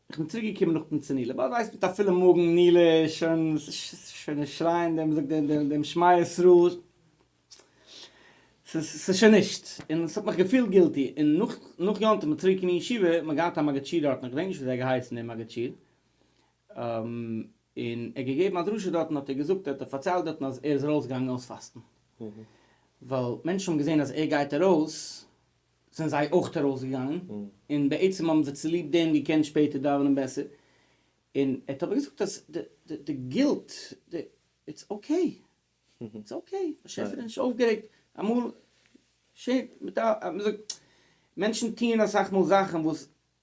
איך בין צוריק געקומען נאך פון צו נילע, ביי ווייסט מיט א פילע מאגן, נילע איז שוין, ס'איז שוין נישט שרייען דעם, וויאזוי זאגט מען, דעם שמע ישראל, ס'איז שוין נישט, און ס'האט מיך געפילט גילטי, און נאך נאך יום טוב מיט צוריק אין ישיבה, מ'האט געהאט א מגד שיעור דארטן, איך געדענק נישט וויאזוי ער האט געהייסן דער מגד שיעור, און ער האט געגעבן א דרשה דארטן האט ער געזאגט ער האט פארציילט דארטן אז ער איז ארויס געגאנגען אויס פאסטן ווייל מענטשן האבן געזען אז ער גייט ארויס זענען זיי אויך ארויס געגאנגען און בעצם האבן זיי צוליב דעם געקענט שפעטער דאווענען בעסער און ער האט אבער געזאגט אז די גילט די איטס אקעי איטס אקעי באשעפער איז נישט אויפגערעגט אמאל מענטשן טוען אסאך מאל זאכן וואס.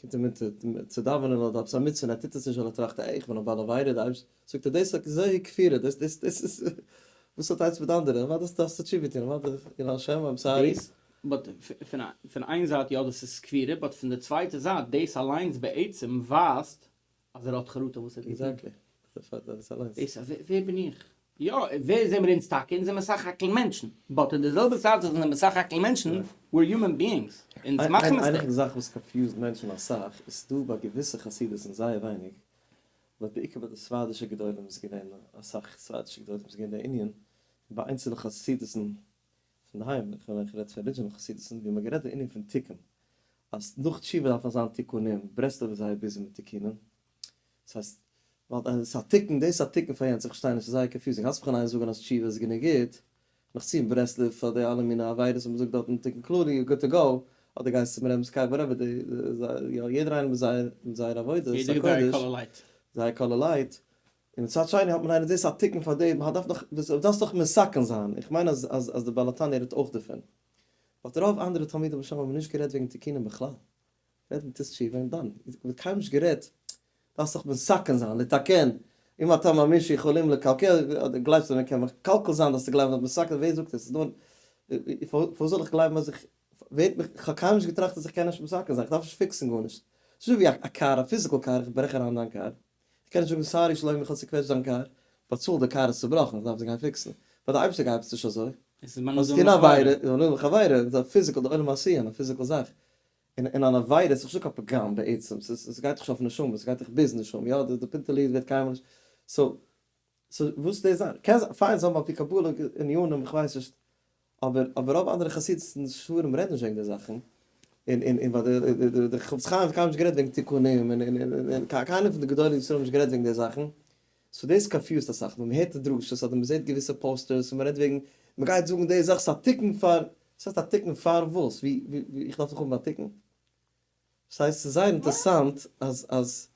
קומט אים אונטער צו דאווענען אדער עפעס א מצוה און ער טוט עס נישט ווייל ער טראכט אה איך בין א בעל עבירה די אייבישטער זאגט אז דאס איז זיי כפירה דאס דאס דאס איז וואס האט איינס מיט די אנדערע אוודאי האסטו האסטו תשובה געטון אוודאי יראת השם איים סארי. דאס באט פון איין זייט יא דאס איז כפירה באט פון די צווייטע זייט דאס אליינס בעצם ווייזט אז ער האט חרטה וואס ער האט געטון. עקזעקטלי. פאר דאס אליינס. דאס אז ווער בין איך? יא, ווער זעמער אונז טאקע? אונז זעמער סך הכל מענטשן. באט אין די זעלבע צייט וואס אונז זעמער סך הכל מענטשן, ווער היומען ביאינגס. אונז מאכן מיסטעיקס. איינע פון די זאכן וואס קאנפיוזד מענטשן אסאך איז דא ביי געוויסע חסידות און זייער ווייניג, באט בעיקר ביי די ספרדישע גדולים איז געווען אסאך ספרדישע גדולים איז געווען די ענין, ביי איינצעלע חסידות'ן פון היים, איך מיין איך רעד פון ארידזשינעל חסידות'ן ווי מען האט גערעדט די ענין פון תיקון, אז נאך תשובה דארף מען זיין תיקונים, ברסלב איז זייער ביזי מיט תיקונים, דאס הייסט, ווייל עס איז א תיקון דאס, א תיקון פאר יענץ, איך פארשטיי נישט, עס איז זייער קאנפיוזינג, האלטסט מיך אן איין זאגען אז תשובה איז גענוג גוט, נאך צו אין ברסלב פאר די אלע מיני עבירות וואס מען זאגט דארטן תיקון כללי איז גוד טו גאו, אדער גייסט צום רעבינ'ס קאר וואטעווער די, יא יעדער איינער מיט זייער עבודה, עס איז א קודש, זייער קאלער לייט. און מצד שני האט מען איינער דאס א תיקון פאר דעם, האט דארף דאך וואס דארפסט דאך מסכן זיין, איך מיין אז אז אז די בעל התניא רעדט אויך דערפון, באט רוב אנדערע תלמידי בשם האבן נישט גערעדט וועגן תיקונים בכלל, רעדט מען טוס תשובה און דאן, ווערט קיינמאל נישט גערעדט, דארפסט דאך מסכן זיין, לתקן, אם אתה מאמין שיכולים לקלקל, אדער גלייבסט אז מען קען מקלקל זיין דארפסטו גלייבן אז מסכן, ווער זאגט עס, ס'דא, פארוואס זאל איך גלייבן אז איך, ווערט מיך, כ'האב קיינמאל נישט געטראכט אז איך קען נישט מסכן זיין, כ'דארף נישט פיקסן גארנישט, ס'נישט ווי א קאר, א פיזיקל קאר, איך ברעך אריין דיין קאר, איך קען נישט זאגן סארי שלומי איך האב צוקוועטשט דיין קאר, באצאל די קאר איז צובראכן איך דארף עס גיין פיקסן, ביי די אייבערשטער גייט עס נישט אזוי, עס איז מנודה און מכורה. עס איז מנודה און מכורה, עס איז א פיזיקעל די עולם העשייה, א פיזיקעל זאך, און און אן עבירה איז דאך נישט קיין פגם בעצם, ס'איז ס'גייט דאך נישט אויף נשמה, ס'גייט דאך ביז נשמה, יא די פינטעלע איד ווערט קיינמאל נישט, סאו. סאו וואס דאס זיין? קען זיין פיין זיין אויף די קבלה עניינים איך ווייס נישט, אבער אבער רוב אנדערע חסידות'ן און ספרים רעדן נישט וועגן די זאכן, און און און ווייל די חפץ חיים האט קיינמאל נישט גערעדט וועגן תיקונים און און און און קיינער פון די גדולי ישראל האבן נישט גערעדט וועגן די זאכן, סאו דאס קאנפיוזט אסאך ווען מ'הערט די דרשות אדער מ'זעט געוויסע פאוסטערס און מ'רעדט וועגן מ'גייט זאגן די זאך ס'איז א תיקון פאר, וואס הייסט א תיקון פאר וואס? ווי ווי איך דארף זיך האבן א תיקון? ס'הייסט ס'איז זייער אינטערסאנט אז אז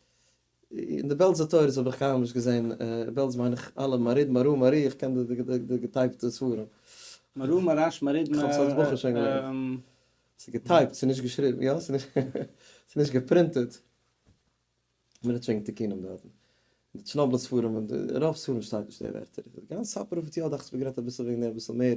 אין די בעלזע תורות האב איך קיינמאל נישט געזען, בעלז מיין איך אלע מריד מרא מארי איך קען די די געטייפטע ספרים. מרא מאראש מריד מ. כ'האב ס'אלס בחור שוין געליינט. ס'איז געטייפט ס'איז נישט געשריבן יא? ס'איז נישט געפרינטעד. מען האט שוין תיקונים דארטן. די טשנאבלער ספרים און רוב ספרים שטייט נישט די ווערטער. די גאנצע ספר אויף אותיות דאכט זיך מ'האט גערעדט אביסל וועגן דעם אביסל מער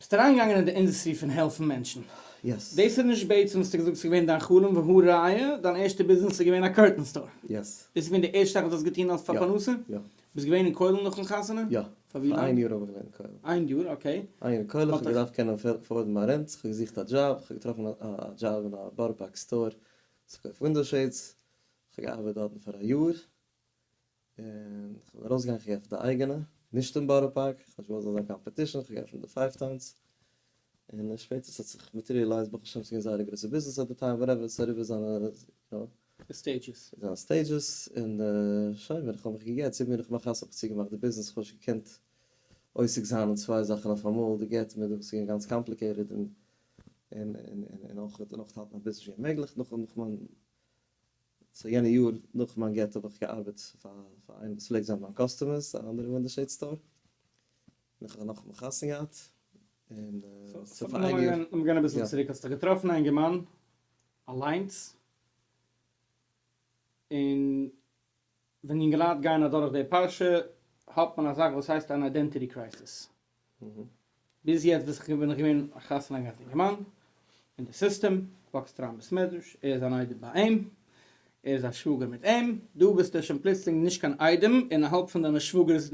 ביסט אריינגעגאנגען אין די אינדעסטרי פון העלפן מענטשן? יעס. דאס איז נישט בעצם וואס האסט געזאגט ס'איז געווען דיין חלום והא ראיה דיין ערשטע ביזנעס איז געווען א קורטען סטאר. יעס. דאס איז געווען די ערשטע זאך וואס האסט געטון אלס פאר פרנסה? יא. יא. ביסט געווען אין כולל נאכן חתונה? יא. פאר ווי לאנג? פאר איין יאר האב איך געווען אין כולל. איין יאר, אקעי. איין יאר אין כולל, כ'האב געדארפט קענען עפארדן מיין רענט, כ'האב געזוכט א דזשאב, כ'האב געטראפן א דזשאב אין א בארא פארק סטאר, ס'פארקויפט ווינדאו שעידס, כ'האב געארבעט דארטן פאר א יאר, און כ'בין ארויסגעגאנגען כ'האב געעפנט א אייגענע, נישט אין בארא פארק, כ'האב נישט געוואלט ס'זאל זיין קאמפעטישן, כ'האב געעפנט די פייוו טאונס, און שפעטער ס'האט זיך מאטעריעלייזט ברוך השם ס'געווען זייער א גרויסע ביזנעס עט די טיים וואטעווער ס'איז אריבער זיינע יו נאו, די סטעידזשעס. זיינע סטעידזשעס, און שוין ווען כ'האב מיך געגט צו מיר נאך מיין חתונה האב איך צוגעמאכט די ביזנעס, כ'האב נישט געקענט עוסק זיין אין צוויי זאכן אויפאמאל, די גט מיט די וואס איז געווען גאנץ קאמפליקעיטעד, און און און און אויך און אויך האלטן א ביזנעס איז שוין אוממעגליך נאך מיין סאו יענע יאר נאך מיין גט האב איך געארבעט פאר פאר איינעם וואס פלעגט זיין מיין קאסטומער, ס'איז א אנדערע וואנדער שעיד סטאר, און איך האב נאך מיך חתונה געהאט, און סאו פאר איין יאר. לאמיר גיין אביסל צוריק, האסט דיך געטראפן א אינגערמאן אליינס, און ווען יונגעלייט גייען אדורך די פרשה האט מען א זאך וואס הייסט אן איידענטיטי קרייסיס. ביז יעצט וויס איך בין איך געווען א חתן א גאט אינגערמאן, אין די סיסטעם, וואקסט אריין בעסמעדרעש, ער איז אן איידעם ביי אים, ער איז א שוואגער מיט אים, דא ביסטו שוין פלוצלינג נישט קיין איידעם און א האלב פון דיינע שוואגערס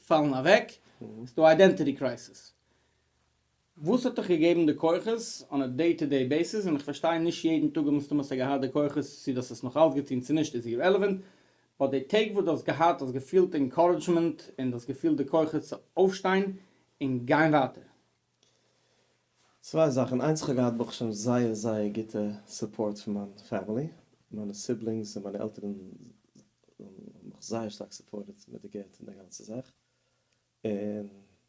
פאלן אוועק, ס'איז דא א איידענטיטי קרייסיס. וואס האט דיך געגעבן די כוחות אן א דעי טו דעי בעיסיס, און איך פארשטיי נישט יעדן טאג מסתמא האסטו געהאט די כוחות, צו דו האסט עס נאכאלץ געטון צו נישט איז אירעלעווענט, ביי די טעג וואס דו האסט געהאט האסט געפילט אינקארעדזשמענט און דו האסט געפילט די כוחות צו אויפשטיין און גיין ווייטער? צוויי זאכן, איינס איך האב געהאט ברוך השם זייער זייער גוטע סופארט פון מיין פעמילי, מיינע סיבלינגס און מיינע עלטערן האבן מיך זייער שטארק סופארטעד מיט די געלט און די גאנצע זאך, און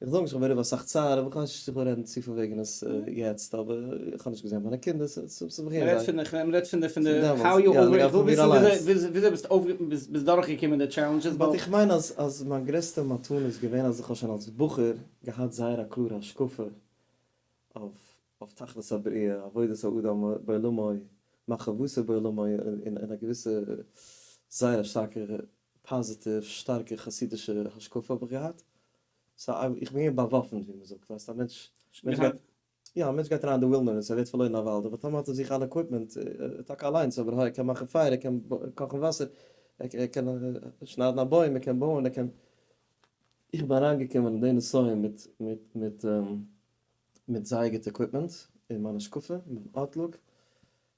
איך זאג נישט איך בין רעב אסאך צער אבער איך ווייס נישט צו איך וויל רעדן צופיל וועגן עס יעצט אבער איך האב נישט געזען מיינע קינדער ס'איז מיר זייער מען רעדט פון די פון די פון די האו יו אווער איך וויל וויסן וויאזוי ביסט אויף ביסט דורך געקומען די טשעלענדזשעס באט איך מיין אז אז מיין גרעסטע מתנה איז געווען אז איך האב שוין אלס בחור געהאט זייער א קלארע השקפה אויף אויף תכלית הבריאה עבודת האדם בעולמו מחשבותו בעולמו און און א געוויסע זייער א שטארקע פאזיטיוו שטארקע חסידישע השקפה האב איך געהאט, סא איך בין געווען באוואפנט ווי מען זאגט, ווייסט א מענטש, מענטש גייט, יא, א מענטש גייט אריין אין די ווילדערנעס ער ווערט פארלוירן אין א וואלד, אויף א טאמער האט ער זיך אן עקוויפמענט, טאקע אליינס אבער העי ער קען מאכן פייער, ער קען קאכן וואסער, ער קען שניידן א בוים, ער קען בויען, ער קען, איך בין אריינגעקומען אין די נסיון מיט מיט מיט מיט זייער גוט עקוויפמענט, און מיין השקפה, מיין אוטלוק.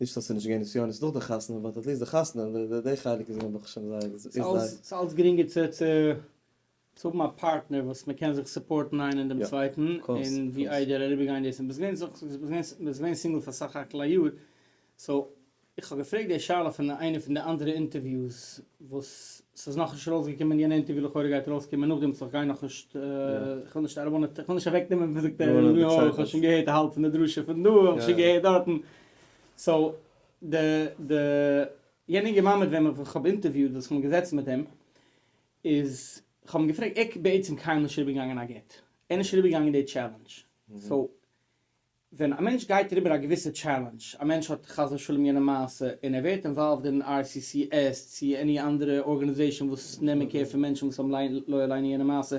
נישט אז ס'איז נישט געווען נסיונות נאך די חתונה, באט עטליסט די חתונה, די חלק איז נעבעך שוין זייער, איז זייער. ס'איז אלץ גרינגער צו צו האבן א פארטנער וואס מען קען זיך סופארטן איינער אין דעם צווייטן, און ווי איידער אריבערגיין דאס, און ביסט געווען ביסט געווען סינגל פאר סך הכל א יאר, סאו, איך האב געפרעגט די שאלה פון איינע פון די אנדערע אינטערוויוס, וואס ס'איז נאכנישט ארויסגעקומען יענע אינטערוויו לכאורה גייט ארויסקומען נאכדעם סאו כ'גיי נאכנישט איך וויל נישט ערבאנען איך וויל נישט אוועקנעמען וואס זאגט ער נו יא כ'האב שוין געהערט א האלב פון די דרשה פון דא און שוין געהערט דארטן סאו די די יענע אינגע מאן מיט וועם איך האב אינטערוויוט וואס כ'בין געזעצן מיט אים איז כ'האב אים געפרעגט ער בעצם קיינמאל נישט איבערגעגאנגען א גט ער איז נישט איבערגעגאנגען די טשעלענדש סאו ווען א מענטש גייט אריבער א געוויסע טשעלענדזש, א מענטש האט חס ושלום יענע מעשה, און ער ווערט אינוואלווד אין RCCS צו עני אנדערע ארגענעזעישאן וואס נעמען קער פון מענטשן וואס האבן לא עלינו יענע מעשה,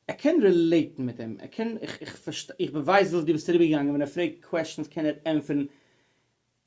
ער קען רילעיטן מיט אים, ער קען, איך איך פארשטיי, איך ווייס וואס דו ביסט אריבערגעגאנגען, ווען ער פרעגט קוועשטענס קען ער ענטפערן,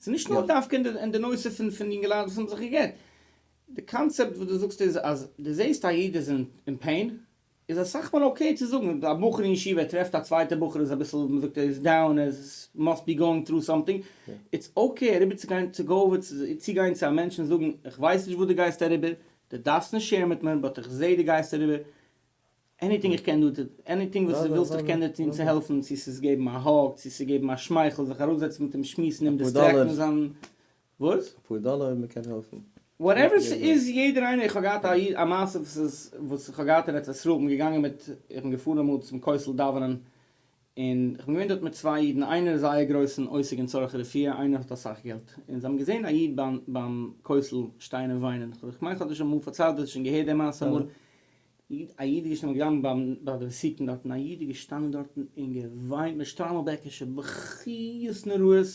ס'איז נישט נאר דווקא אין די נושא פון פון יונגעלייט וואס האבן זיך גע'גט. די קאנצעפט וואס דו זאגסט איז אז דו זעסט א איד איז אין פעין, איז אסאך מאל אקעי צו זאגן. א בחור אין ישיבה ער טרעפט א צווייטע בחור איז אביסל ווי מ'זאגט ער איז דאון, ער מאסט בי גאוינג טרו סאמטינג, איטס אקעי אריבער צו גיין צו גאו איטס צו גיין צו א מענטש און זאגן איך ווייס נישט וואס דו גייסט אריבער, דו דארפסט נישט שעירן מיט מיר באט איך זעה דו גייסט אריבער, עניטינג איך קען דא, עניטינג וואס דו ווילסט איך קען דיר טון צו העלפן, צו ס'איז געבן א האג, צו ס'איז געבן א שמייכל, זיך אראפזעצן מיט אים שמועסן, אים דיסטרעקטן, זיין, וואס? אפאר דאלער אויב מ'קען העלפן. וואטעווער ס'איז, יעדער איינער, איך האב געהאט א איד, א מעשה וואס איז, וואס איך האב געהאט אין ארץ ישראל, כ'בין געגאנגען מיט, איך בין געפארן אמאל צום כותל דאווענען, און כ'בין געווען דארט מיט צוויי אידן, איינער איז זייער גרויסן עוסק אין צרכי רפואה, איינער האט אסאך געלט, און זיי האבן געזען א איד ביים כותל שטיין און וויינען, כ'מיין כ'האב דיר שוין אמאל פארציילט, דו האסט שוין געהערט די מעשה אמאל, א איד איז געשטאנען געגאנגען ביים ביי די עסקן דארטן, א איד איז געשטאנען דארטן און געוויינט מיט שטריימלבעקישע בכיות נוראות,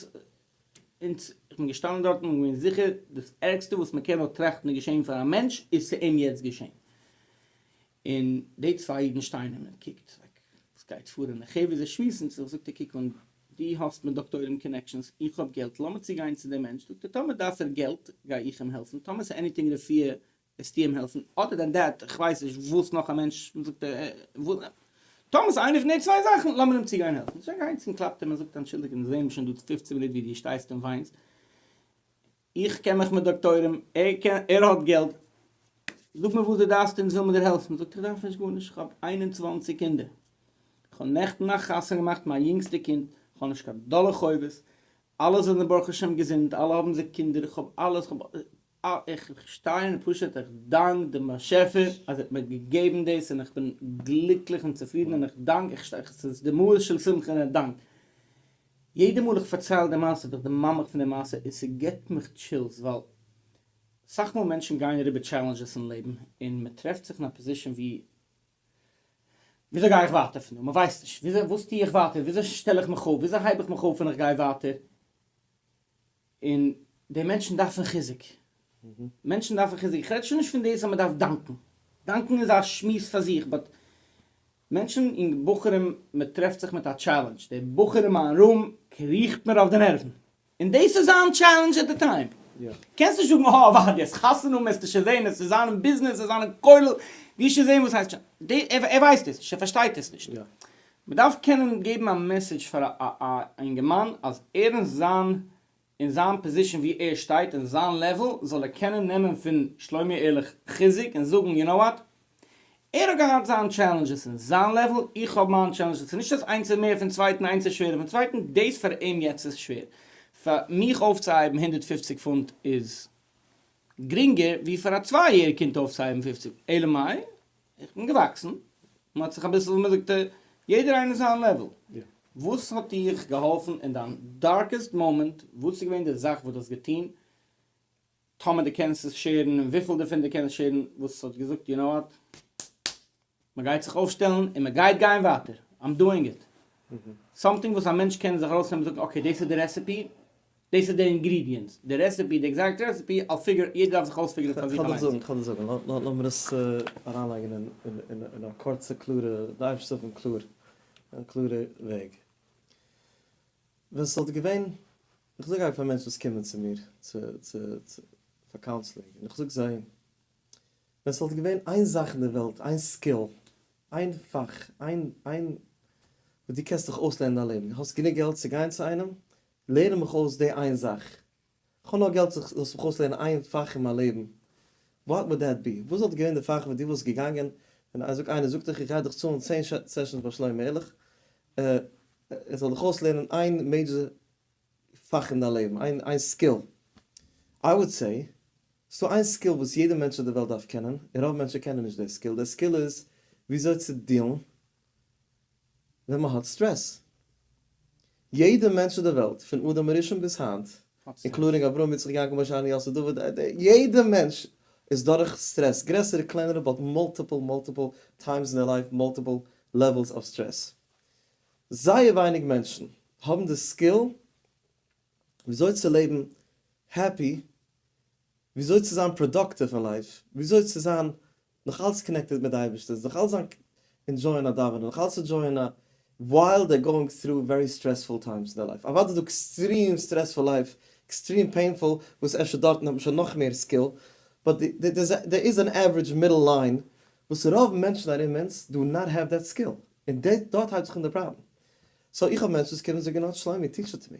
און כ'בין געשטאנען דארטן און געווען זיכער דאס ערגסטע וואס מ'קען נאר טראכטן איז געשען פאר א מענטש איז צו אים יעצט געשען, און די צוויי אידן שטייען און מען קוקט לייק עס גייט פאר און די חברה זיי שמועסן זיך זאגט ער קוק אן דו האסט מיט דאקטוירים קאנעקשאנס איך האב געלט לאמיר צו גיין צו דעם מענטש זאגט ער טאמער דארף ער געלט גיי איך אים העלפן טאמער עס עניטינג רפואה וועסטו אים העלפן אדער דען דעט איך ווייס נישט וואס נאך א מענטש זאגט ער טאמער עס איז איינע פון די צוויי זאכן לאמיר אים צו גיין העלפן זיי גייען צו אים קלאפט ער מען זאגט אנטשולדיגט מיר זעהן שוין דא פֿופֿצן מינוט ווי דו שטייסט און וויינסט איך קען מיך מיט דאקטוירים, ער קען, ער האט געלט, זאג מיר וואס דו דארפסט אונז ווילן מיר דיר העלפן, זאגט ער, איך דארף נישט גארנישט, איך האב איין און צוואַנציק קינדער, איך האב נעכטן א חתונה געמאכט מיין יונגסטע קינד, איך האב נישט קיין דאלער חובות, אלע זענען ברוך השם געזונט, אלע האבן זיי קינדער, איך האב אלעס, איך האב, איך שטיי און פשוט איך דאנק דעם באשעפער אז ער האט מיר געגעבן דאס און איך בין גליקליך און צופרידן און איך דאנק, איך שטיי, ס'איז דמעות של שמחה און דאנק. יעדע מאל איך פארצייל די מעשה ווערט די מאמר פון די מעשה און ס'געט מיך טשילס ווייל סאך מאל מענטשן גייען אריבער טשעלענדזשעס אין לעבן און מ'טרעפט זיך אין א פאזישן ווי וויאזוי גיי איך ווייטער פון דא? מ'ווייסט נישט וויאזוי וואס טוה איך ווייטער? וויאזוי שטעל איך מיך אויף? וויאזוי הייב איך מיך אויף און איך גיי ווייטער? און די מענטשן דארפן חיזוק, מענטשן דארפן חיזוק, איך רעד שוין נישט פון דאס אז מען דארף דאנקן, דאנקן איז א שמועס פאר זיך, באט מענטשן און בחורים, מען טרעפט זיך מיט א טשעלענדזש, די בחור אין מיין רום קריכט מיר אויף די נערוון, און דאס איז זיין טשעלענדזש עט די טיים, קענסט נישט זאגן אה עובדיה, עס איז חתונה וועסטו שוין זען, עס איז זיין אין ביזנעס, עס איז זיין אין כולל, וועסט שוין זען וואס הייסט טשעלענדזש, ער ווייסט עס נישט, ער פארשטייט עס נישט. מען דארף קענען געבן א מעסעדזש פאר א א אינגערמאן אז ער אין זיין אין זיין פאזישאן ווי ער שטייט אין זיין לעוועל זאל ער קענען נעמען פון שלומי ערליך חיזוק און זאגן יו נאו וואט ער האט געהאט זיין טשעלענדזשעס אין זיין לעוועל איך האב מיין טשעלענדזשעס ס'איז נישט אז איינס איז מער פון צווייטן איינס איז שווערער פון צווייטן דאס פאר אים יעצט איז שווער פאר מיך אויפצוהייבן הונדערט פֿופֿציק פונט איז גרינגער ווי פאר א צוויי יעריג קינד אויפצוהייבן פֿופֿציק אלא מאי איך בין געוואקסן, מען האט זיך אביסל ווי מען זאגט יעדער איינער זיין לעוועל. וואס האט דיך געהאלפן אין דיין דארקעסט מאמענט, וואס איז געווען די זאך וואס דו האסט געטון, טאמער דו קענסט עס שעירן, און וויפיל דערפון דו קענסט שעירן, וואס האט געזאגט יו נאו וואט, מען גייט זיך אויפשטעלן און מען גייט גיין ווייטער, איים דואינג איט. סאמטינג וואס א מענטש קען זיך ארויסנעמען און זאגן אקעי דאס איז די רעסעפי, דאס איז די אינגרידיענטס, די רעסעפי, די עקזעקט רעסעפי, אויף פיגור, יעדער דארף זיך אויספיגערן פאר זיך אליינס. כ'על דיך זאגן, כ'על דיך זאגן, לאמיר עס אריינלייגן אין א קורצע קלארע, די אייבערשטער האט קלאר, א קלארע וועג. ווען ס'וואלט געווען, איך זאג א פאר מענטשן וואס קומען צו מיר צו צו צו פאר קאונסלינג, און איך זאג זיי, ווען ס'וואלט געווען איין זאך אין די וועלט, איין סקיל, איין פאך, איין איין וואס דו קענסט דיך אויסלערנען אין דיין לעבן, האסט גענוג געלט צו גיין צו איינעם, לערן מיך אויס די איין זאך. כ'האב נאר געלט זיך זאלסט מיך אויסלערנען איין פאך אין מיין לעבן. וואט וואלד דעט בי? וואס וואלט געווען די פאך וואס דו וואלסט געגאנגען ווען איינער זאגט דיך איך גיי דיך צאלן צען סעשאנס ביי שלמה ארליך ער זאל דיך אויסלערנען איין מעידזשער פאך אין דיין לעבן, איין איין סקיל. איי וואלד סעי, ס'דא איין סקיל וואס יעדע מענטש אויף די וועלט דארף קענען, און רוב מענטשן קענען נישט די סקיל, די סקיל איז וויאזוי צו דיעלן ווען מען האט סטרעס. יעדע מענטש אויף די וועלט, פון אדם הראשון ביז היינט, אינקלודינג אברהם יצחק יעקב משה אהרן יוסף דוד, יעדע מענטש איז דורך סטרעס, גרעסערע קלענערע, באט מאלטיפל מאלטיפל טיימס אין דער לייף, מאלטיפל לעוועלס אוו סטרעס. זייער ווייניג מענטשן האבן די סקיל ווי אזוי צו לעבן העפי, ווי אזוי צו זיין פראדאקטיוו אין לייף, ווי אזוי צו זיין נאך אלץ קאנעקטעד מיט די אייבערשטער, נאך אלץ זיין ענדזשויען א דאווענען, נאך אלץ ענדזשויען א ווייל דער גאוינג טרו ווערי סטרעספול טיימס אין די לייף, אוודאי איז דא עקסטרים סטרעספול לייף, עקסטרים פעינפול, וואס אפשר דארטן האט מען שוין נאך מער סקיל, באט דער איז אן עווערעדזש מידל ליין וואס רוב מענטשן ארום אונז דא נאט העוו דעט סקיל, און דארט הייבט זיך אן די פראבלעם, סאו איך האב מענטשן וואס קומען און זאגן נאט שלומי טיטש איט טו מי,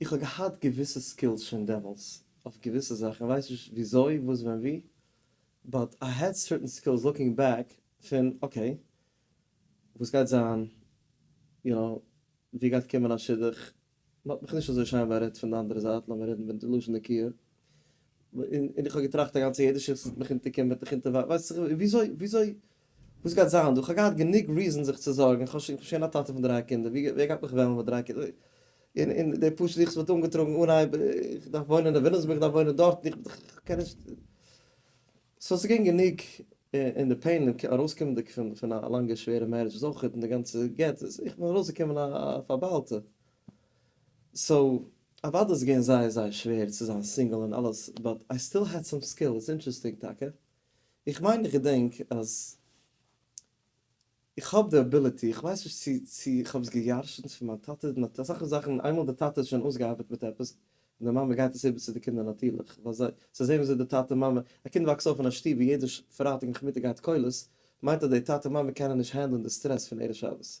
איך האב געהאט געוויסע סקילס שוין דעמאלטס אויף געוויסע זאכן, ווייס נישט וויאזוי, וואס, ווען, ווי, באט איי העד סערטען סקילס לוקינג בעק פון אקעי, וואס גייט זיין, יו נאו, ווי גייט קומען א שידוך, מ'האט מיך נישט אזוי שיין בארעדט פון די אנדערע זייט, לאמיר רעדן מיט די לשון נקיה. און איך האב געטראכט א גאנצע יעדע שיכט וועט מיך אונטערקומען וועט מיך אונטערווארפן ווייסט זיך וויאזוי וויאזוי וואס גייט זיין דא, כ'האב געהאט גענוג ריזען זיך צו זארגן, איך בין שוין א טאטע פון דריי קינדער, ווי ווער גייט מיך וועלן מיט דריי קינדער, און און די פשוטע זיכעס וואלט אנגעטראגן אנהייב, איך דארף וואוינען אין וויליאמסבורג איך דארף וואוינען דארטן איך קען נישט, סאו ס'געווען גענוג, און די פעין ארויסקומענדיג פון פון א לאנגע שווערע מערידזש איז אויך, און די גאנצע גט, איך בין ארויסגעקומען א פארבאלטע, סאו אוודאי איז געווען זייער זייער שווער צו זיין סינגעל און אלעס באט איי סטיל העד סאם סקילס, אינטערעסטינג טאקע, איך מיין איך געדענק אז איך האב די עביליטי, איך ווייס נישט צו צו איך האב עס געירשנט פון מיין טאטע, מען האט אסאך זאכן איינמאל די טאטע איז שוין אויסגעארבעט מיט עפעס און די מאמע גייט עס איבער צו די קינדער נאטירליך ווייל זיי זיי זעהן וויאזוי די טאטע מאמע, א קינד וואקסט אויף אין א שטוב ווי יעדע פרייטאג נאכמיטאג גייט כולל מיינט אז די טאטע מאמע קענען נישט הענדלען די סטרעס פון ערב שבת,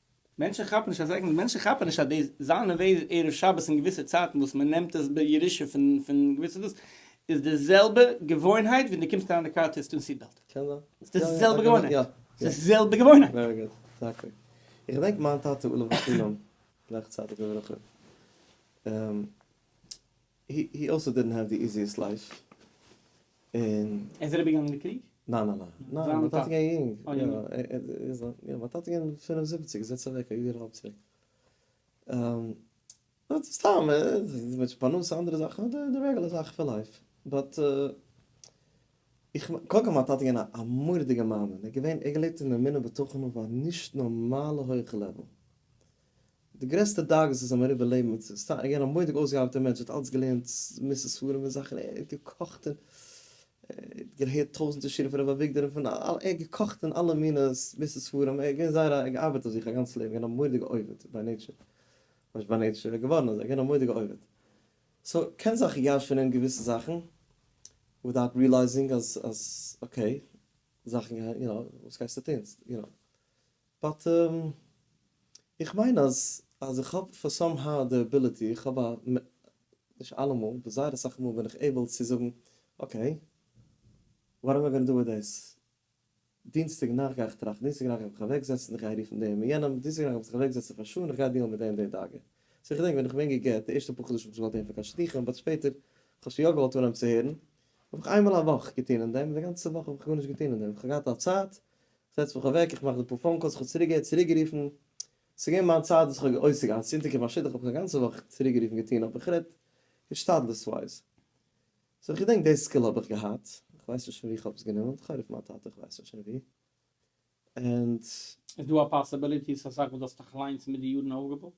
מענטשן כאפן נישט אז עגמ. מענטשן כאפן נישט אז די זיין אווער ערב שבת אין געוויסע צייטן וואס מען נעמט עס בירושה פון פון געוויסע דאס איז די זעלבע געוואוינהייט ווי די קומסט אריין אין די קאר טוהסט אן סיט בעלט. קען זיין. ס'איז די זעלבע געוואוינהייט. ס'איז די זעלבע געוואוינהייט. ווערי גוד. עקזעקטלי. איך געדענק מיין טאטע עליו השלום, גלייכצייטיג לברכה, הי הי אלסא דידנט העוו די איזיעסט לייף און. ער איז אריבערגעגאנגען די קריג? ניין ניין ניין ניין מיין טאטע געווען יונג יא מיין טאטע געווען פֿינף און זיבעציק איז יעצט אוועק א יאר און האלב צוריק סתם מיט פרנסה אנדערע זאכן די רעגולער זאכן פון לייף באט איך קודם כל מיין טאטע געווען א מורא'דיגע מאמין ער געווען ער געלעבט אין אמונה בתוכנו אויף א נישט נארמאלע הויכע לעוועל די גרעסטע דאגות וואס האבן אריבער לעבן מיט ס'איז סתם ער געווען א מודיג אויסגעארבעטער מענטש האט אלץ געלערנט מוסר ספרים און זאכן ער האט געקאכט און האט געהערט טויזענטער שירים פון ר' אביגדור און פון אלע ער האט געקאכט און אלע מינע מוסר ספרים ער איז געווען זייער א ער האט געארבעט אויף זיך א גאנץ לעבן געווען א מודיגע עובד ביי נעיטשער נישט ביי נעיטשער ער איז געווארן אזוי געווען א מודיגע עובד סאו קען זיך ירש פון אים געוויסע זאכן ווידאוט ריעלייזינג אז אז אקעי זאכן גייען יו נאו וואס גייסטו טון יו נאו. באט איך מיין אז אז איך האב פאר סאם האו די אביליטי, איך האב א, נישט אלעמאל, אבער זייער אסאך מאל בין איך עיבל צו זאגן, אקעי, וואט עם איי גאנא דא וויט דעיס, דינסטאג נאכט גיי איך טראכטן, דינסטאג נאכט גיי איך מיך אוועק זעצן, איך גיי רופן דעם און יענעם, דינסטאג נאכט וועל איך זיך אוועק זעצן פאר שעה און איך גיי דיעלן מיט די און די דאגה. סאו איך דענק ווען איך בין יונגער גערט, די ערשטע פאר חדשים האב איך נישט געוואלט הערן פון קיין שדכן, באט שפעטער, איך האב שוין יא געוואלט אנהייבן צו הערן, האב איך איינמאל א וואך געטון אין דעם, און די גאנצע וואך האב איך גארנישט געטון אין דעם, איך האב געהאט א צייט זעץ מיך אוועק, איך מאך די פאר פאון קאלס, כ'האב צוריק געהערט, צוריק גערופן, ס'איז געווען מיין צייט וואס כ'האב עוסק געווען, צו אונטערקומען א שידוך, כ'האב שוין א גאנצע וואך צוריק גערופן געטון, אבער כ'רעד השתדלותווייז, סאו כ'געדענק די סקיל האב איך געהאט, כ'ווייס נישט פון ווי כ'האב עס גענומען, כ'האב גערופן מיין טאטע, כ'ווייס נישט פון ווי, ענד. איז דא א פאסעבעליטי ס'איז אסאך וואס דו האסט דיך אליינס מיט די יארן אויפגעבויט?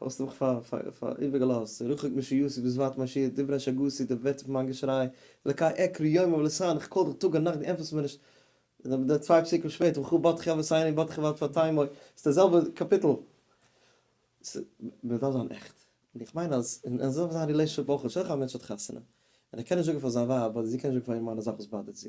האסט מיך איבערגעלאזט, צו רחוק משיוסי וזוועת מעשי, דברי שגותי, דער ווערטער פון מיין געשריי, אלקי עקרי יומם ולילה, איך קאל דיך טאג און נאכט דו ענטפערסט מיר נישט, די צוויי פסוקים שפעטער, וכה באתך אבוס עיני באתך ואל תפתי' עמו, ס'איז דער זעלבער קאפיטל. מ'דארף זיין עכט. און איך מיין אז אזוי זאל זיין רילעישאנשיפ אויך, שטעל דיך פאר א מענטש האט חתונה, און ער קען נישט זאגן פאר זיין ווייב, אדער זי קען נישט זאגן פאר איר מאן די זאך וואס באדערט זי,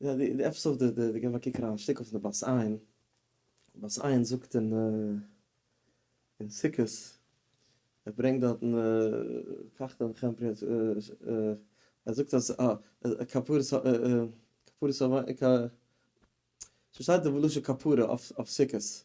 יא די די עפסאד די די געב א קוק אריין א שטיק אויף די בת עין, די בת עין זאגט אין אין סוכות ער ברענגט דארטן פארכט איך מיך עמפרי אז ער זאגט אז א כפרת ה כפרת ה כ ס'שטייט דא בלשון כפרה אויף סוכות.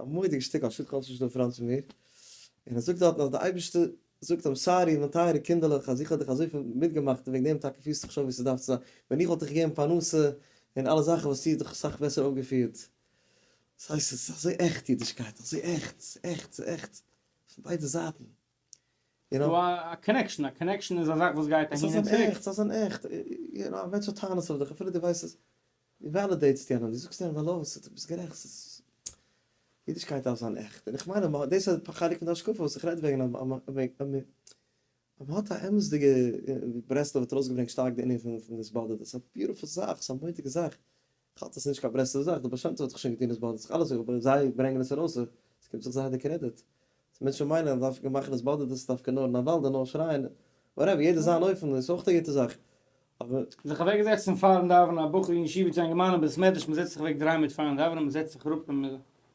א מורא'דיגע שטיק על שטח אלס נישט דא פאראן צו מיר, און ער זאגט דארטן אז די אייבערשטער זאגט אים סארי מיין טייערע קינדערלעך אז איך האב דיך אזויפיל מיטגעמאכט און וועגן דעם טאקע פירסטו דיך שוין ווי עס דארף צו זיין, ווען איך וואלט דיך געגעבן פרנסה און אלע זאכן וואלסטו דיך אסאך בעסער אויפגעפירט. ס'הייסט עס איז אזוי עכט אידישקייט, אזוי עכט, ס'איז עכט, ס'איז עכט פון ביידע זייטן. ס'דא א קאנעקשאן, א קאנעקשאן איז א זאך וואס גייט אהין און צוריק. ס'איז אזאן עכט, ס'איז אזאן עכט, א מענטש האט טענות אויף דיך, אפילו דו ווייסט עס, דו וועלידעיטסט יענעם, דו זאגסט יענעם העלא, ס'איז, דו ביסט גערעכט, ס'איז, אידישקייט דארף זיין עכט, און איך מיין אז מ'האט, דאס איז א חלק פון די השקפה וואס איך רעד וועגן, אז מ'האט א אמת'דיגע, ברסלב האט ארויסגעברענגט שטארק די ענין פון דאס באדערט, ס'איז א ביוטיפול זאך, ס'איז א מוטיגע זאך. כ'האלט עס נישט קיין ברסלב'ע זאך, די באשעמטע האט זיך שוין געטון עס באדערט זיך אלעס אויך, זיי ברענגען עס ארויס אויך, עס קומט זיך זיי די קרעדיט, ס'איז מענטשן מיינען אז דווקא מאכן עס באדערט עס איז דווקא נאר נאוואלדע נאר שרייען, וואטעווער יעדער זיין אופן איז אויך א גוטע זאך, אבער. זיך אוועק זעצן פארן דאווענען, א בחור אין ישיבה צו איין געמיינעם בית מדרש, מ'זעצט זיך אוועק דריי מינוט פארן דאווענען, מ'זעצט זיך אראפ און.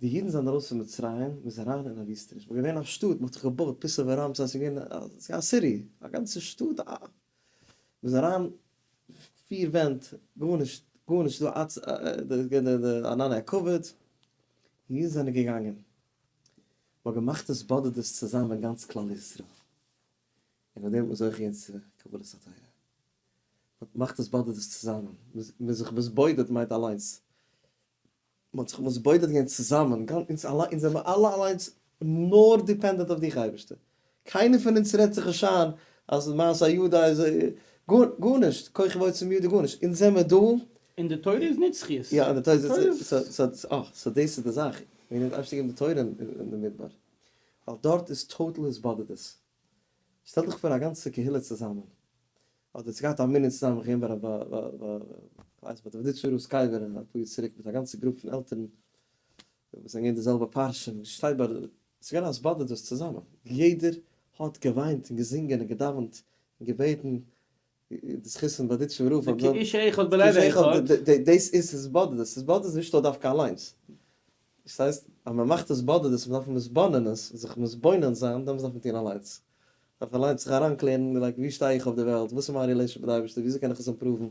די אידן זענען ארויס פון מצרים, מ'איז אריין אין א וויסטעניש, מ'איז געווען א שטאט, מ'האט זיך געבויט פיסא וראמסע, ס'איז געווען א סיטי, א גאנצע שטאט, א, מ'איז אריין פיר ווענט, גארנישט, גארנישט דא אצ ע, דאס געווען די די ענני הכבוד, און אידן זענען געגאנגען, מ'האט געמאכט התבודדות צוזאמען גאנץ כלל ישראל, און מיט דעם האט מען זוכה געווען צו קבלת התורה, מ'האט געמאכט התבודדות צוזאמען, מ'איז זיך מתבודד מיינט אליינס, מען האט זיך מתבודד געווען צוזאמען, אונז זעמיר אלע אליינס נאר דיפענדענט אויף דיך אייבערשטער, קיינער פון אונז רעדט זיך נישט איין אז מעשה ידי איז גארנישט, כח ועוצם ידי גארנישט, אונז זעמיר דא, און די תורה איז נישט זכות, יא און די תורה איז, סאו דאס איז די זאך, מען האט אייביג געגעבן די תורה אין די מדבר, ווייל דארט איז טאטאל התבודדות. שטעל דיך פאר א גאנצע קהילה צוזאמען, אדער ס'איז געהאט א מנין צוזאמען איך געווען ביי רבי כ'ווייס נישט ביי דער וויזניצער רב סקייעווער א פאר יאר צוריק מיט א גאנצע גרופ פון עלטערן וואס זענען געווען די זעלבע פארשוין וואס שטייט ביי די, ס'איז געווען אז באדערט דאס צוזאמען, יעדער האט געוויינט און געזינגען און געדאווענט און געבעטן די זכותים באדיטשען רוב פאר זיי. כאיש אחד בלב אחד. דאס איז עס באדעט עס באדעט עס נישט נאר דווקא אליינס. דאס הייסט אז מען מאכט עס באדעט עס מען דארף מתבונן עס זיך מתבונן זיין דעמאלס דארף מען טון אליינס. מען דארף אליינס זיך אריינקלערן לייק ווי שטיי איך אויף די וועלט וואס איז מיין רילעישאן מיט די אייבערשטער וויאזוי קען איך עס אימפראוון.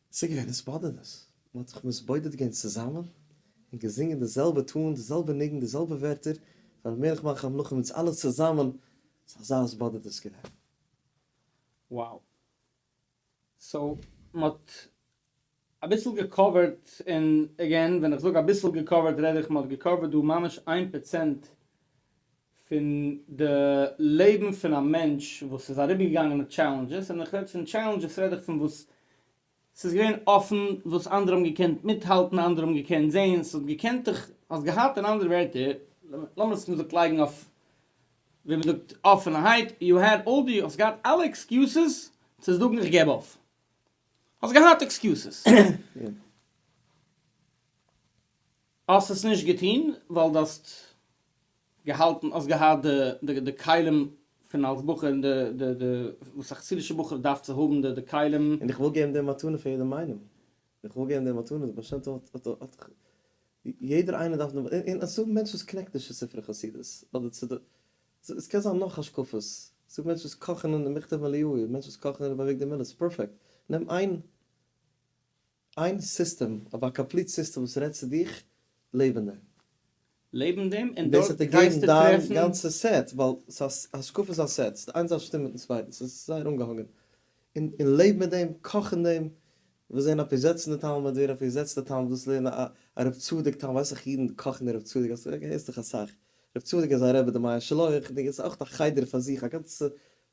צוגעהערט דאס באדערניש, מען האט זיך מתבודד געווען צוזאמען און געזינגען די זעלבע טאן, די זעלבע ניגון, די זעלבע ווערטער, פאר מלך מלכי המלכים, אונז אלע צוזאמען, ס'איז אזא התבודדות געווען. Wow. סאו מ'האט אביסל געקאווערט, און עגעין ווען איך זאג אביסל געקאווערט רעד איך מ'האט געקאווערט דא ממש איין פראצענט פון די לעבן פון א מענטש וואס איז אריבערגעגאנגען מיט טשעלענדזשעס, און איך רעד פון טשעלענדזשעס רעד איך פון וואס ס'איז געווען אפן, וואס אנדערע האבן געקענט מיטהאלטן, אנדערע האבן געקענט זען, ס'האט געקענט דיך, האסט געהאט אין אנדערע ווערטער, לאמיר עס מ'זאגט לייגן אויף ווי מ'זאגט אפענערהייט, יו העד אלל די, האסט געהאט אלע עקסקיוסעס צו זאגן איך געב אויף, האסט געהאט עקסקיוסעס. האסט עס נישט געטון ווייל דו האסט געהאלטן, האסט געהאט די די די כלים פון אלס בחור און די די די וואס א חסידישע בחור דארף צו האבן די די כלים. און איך וויל געבן די מתנה פאר יעדעם איינעם, איך וויל געבן די מתנה, די בעל שם טוב האט האט האט יעדער איינער דארף די, און און ס'דא מענטשן וואס קנעקט נישט צו ספרי חסידות, אדער צו די, עס קען זיין נאך השקפות, ס'דא מענטשן וואס קאכן אין מכתב אליהו, מענטשן וואס קאכן אין רבי אביגדור מילער, ס'איז פערפעקט, נעם איין. איין סיסטעם, אויף א קאמפליט סיסטעם וואס רעדט צו דיך לעבענדע. לעבן דעם און דארט גייסטו טרעפן. און דאס האט ער געגעבן דיין גאנצע סעט, ווייל השקפה איז א סעט, ס'איז איין זאך שטימט מיטן צווייטן, ס'איז זייער אנגעהאנגען, און און לעב מיט דעם, קאך אין דעם, וואס זען אפי' זעצן די תלמוד, ווער אפי' זעצט די תלמוד, וואס לערן א א רב צדוק תלמוד, ווייסעך אידן קאכן אין רב צדוק, האסט געהערט דאך אסאך, רב צדוק איז א רבי די מאה שלח, די איז אויך א חדר פאר זיך, א גאנצע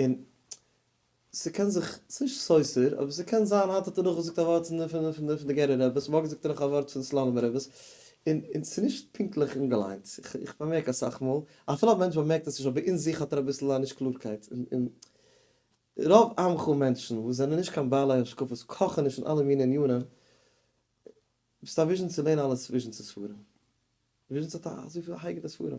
און ס'קען זיך, ס'איז נישט סותר, אבער ס'קען זיין, היינט האט ער נאך געזאגט א ווארט פון די פון די גערער רעבעס, מארגן זאגט ער נאך א ווארט פון סלאנימער רעבעס, און און ס'איז נישט פונקטליך אנגעליינט, איך באמערק אסאך מאל, אפילו א מענטש באמערקט עס נישט אבער אין זיך האט ער אביסל א נישט קלארקייט, און און רוב עמך מענטשן וואס זענען נישט קיין בעלי השקפות קאכן נישט אין אלע מינע עניינים, ביסט א וויזשניצער לערן אלע וויזשניצע ספרים, וויזשניץ האט אזויפיל א הייגעלע ספרים.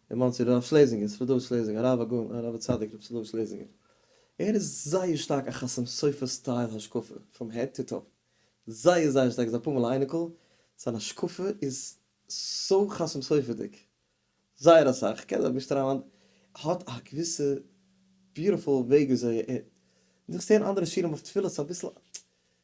אין מאנסי רב שלעזינגער, סעלאדאוויטש שלעזינגער, הרב הגאון הרב הצדיק רבי סעלאדאוויטש שלעזינגער, ער איז זייער שטארק א חתם סופר סטייל השקפה פראם העד טו טאו, זייער זייער שטארק, איז אפאר מאל א אייניקל, זיין השקפה איז סאו חתם סופר'דיג, זייער אסאך, כ'קען זיך נישט אריין, האט א געוויסע ביוטיפול וועג וויאזוי ער, דאס צו הערן אנדערע שירים אויף תפילות איז אביסל,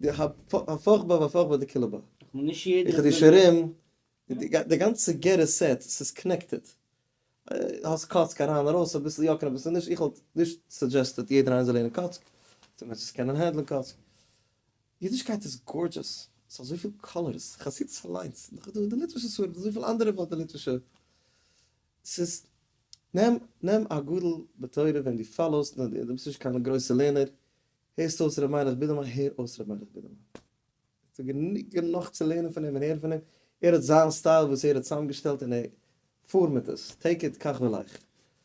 די הפכבה והפכבה דקילבא. איך האב געשרים די גאנצע גערער סעט ס'איז קנעקטעד. האסט קאצק אריין ארויס אביסל יא קענען אביסל נישט איך וואלט נישט סאדזשעסטעד יעדער איינער זאל לערנען קאצק צו מען זאל קענען הענדלען קאצק. אידישקייט איז גארדזשעס ס'האט אזויפיל קאלערס חסידות אליינס נאך איז דא די ליטווישע ספרים דא איז אזויפיל אנדערע וואלט די ליטווישע ס'איז נעם נעם א גדול בתורה וועם דו פאלאוסט נאר דו ביסט נישט קיין גרויסע לערנער הערסט אויס ר' מיינעך בידערמאן? הער אויס ר' מיינעך בידערמאן. עס איז גענוג גענאך צו לערנען פון אים און הערן פון אים. ער האט זיין סטייל וואס ער האט צוזאמגעשטעלט און ער פאר מיט עס. טעיק איט קאך ווי לייך.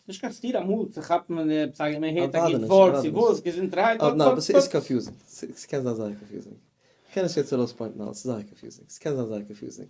נישט קיין סתירה אמאל צו כאפן ווען די עפעס א מען הערט א גוט ווארט צו וואס געזונטערהייט אט אט. עס איז קאנפיוזינג. עס קען זיין זייער קאנפיוזינג. כ'קען נישט יעצט ארויספוינטן אלעס. ס'איז זייער קאנפיוזינג. ס'קען זיין זייער קאנפיוזינג.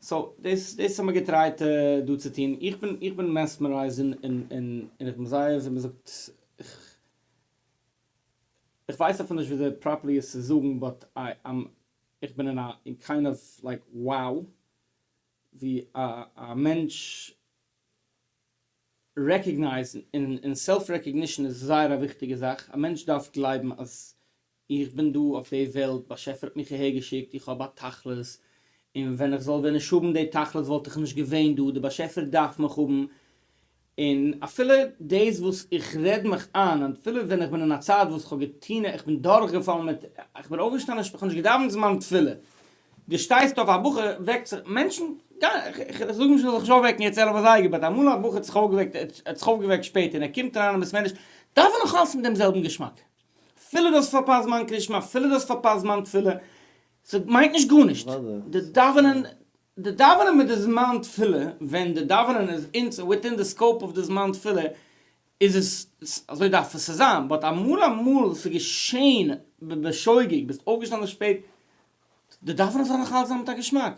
סאו דאס דאס האמיר געטרייט דא צו טון, איך בין איך בין מעסמערייזד און און און און איך בין זייער ווי מ'זאגט איך איך ווייס אפילו נישט וויאזוי פראפערלי עס צו זאגן באט איי עם איך בין אין א אין קיינד אוו לייק wow ווי א א מענטש רעקאגנייזן און און סעלף רעקאגנישן איז זייער א וויכטיגע זאך, א מענטש דארף גלייבן אז איך בין דא אויף די וועלט, באשעפער האט מיך אהער געשיקט, איך האב א תכלית, און ווען איך זאל ווען נישט האבן די תכלית וואלט איך נישט געווען דא, די באשעפער דארף מיך האבן, און אפילו דאס וואס איך רעד מיך איין, אפילו ווען איך בין אין א צייט וואס איך האב געטון, איך בין דורכגעפאלן מיט, איך בין אויפגעשטאנען, איך האב נישט געדאווענט זמן תפילה, דו שטייסט אויף, א בחור וועקט זיך, מענטשן, איך זאג נישט מ'זאל זיך נישט אויפוועקן יעצט ערב אזייגער, באט אמאל א בחור האט זיך אויפגעוועקט, ער האט זיך אויפגעוועקט שפעט און ער קומט אריין אין בית מדרש, דאווען נאך אלץ מיט דעם זעלבן געשמאק, אפילו דו האסט פארפאסט זמן קרישמע, אפילו דו האסט פארפאסט זמן תפילה, ס'מיינט נישט גארנישט, די דאווענען, די דאווענען מיט די זמן תפילה, ווען די דאווענען איז אין, וויטין די סקאופ אוו די זמן תפילה, איז עס, אזוי דארף עס צו זיין, באט אמאל אמאל ס'איז געשען בשוגג, ביסט אויפגעשטאנען שפעט, די דאווענען זאל נאך אלץ זיין מיט א געשמאק.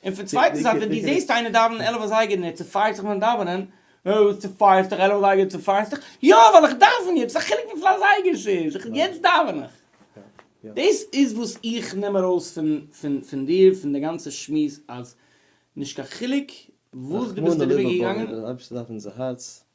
און פון צווייטער זייט ווען דו זעסט איינער דאווענען עלף אזייגער ניט צופייערסט דיך פון דאווענען, אה וואס צופייערסט דיך עלף אזייגער צופייערסט דיך, יא ווייל איך דאווען יעצט, וואס א חילוק וויפיל אזייגער ס'איז, איך יעצט דאווען איך. דאס איז וואס איך נעם ארויס פון פון פון דיר פון די גאנצע שמועס אז נישט קיין חילוק וואס דו ביסט דעריבער געגאנגען, רחמנא ליבא בעיר, אויב ס'דארף אונזער הארץ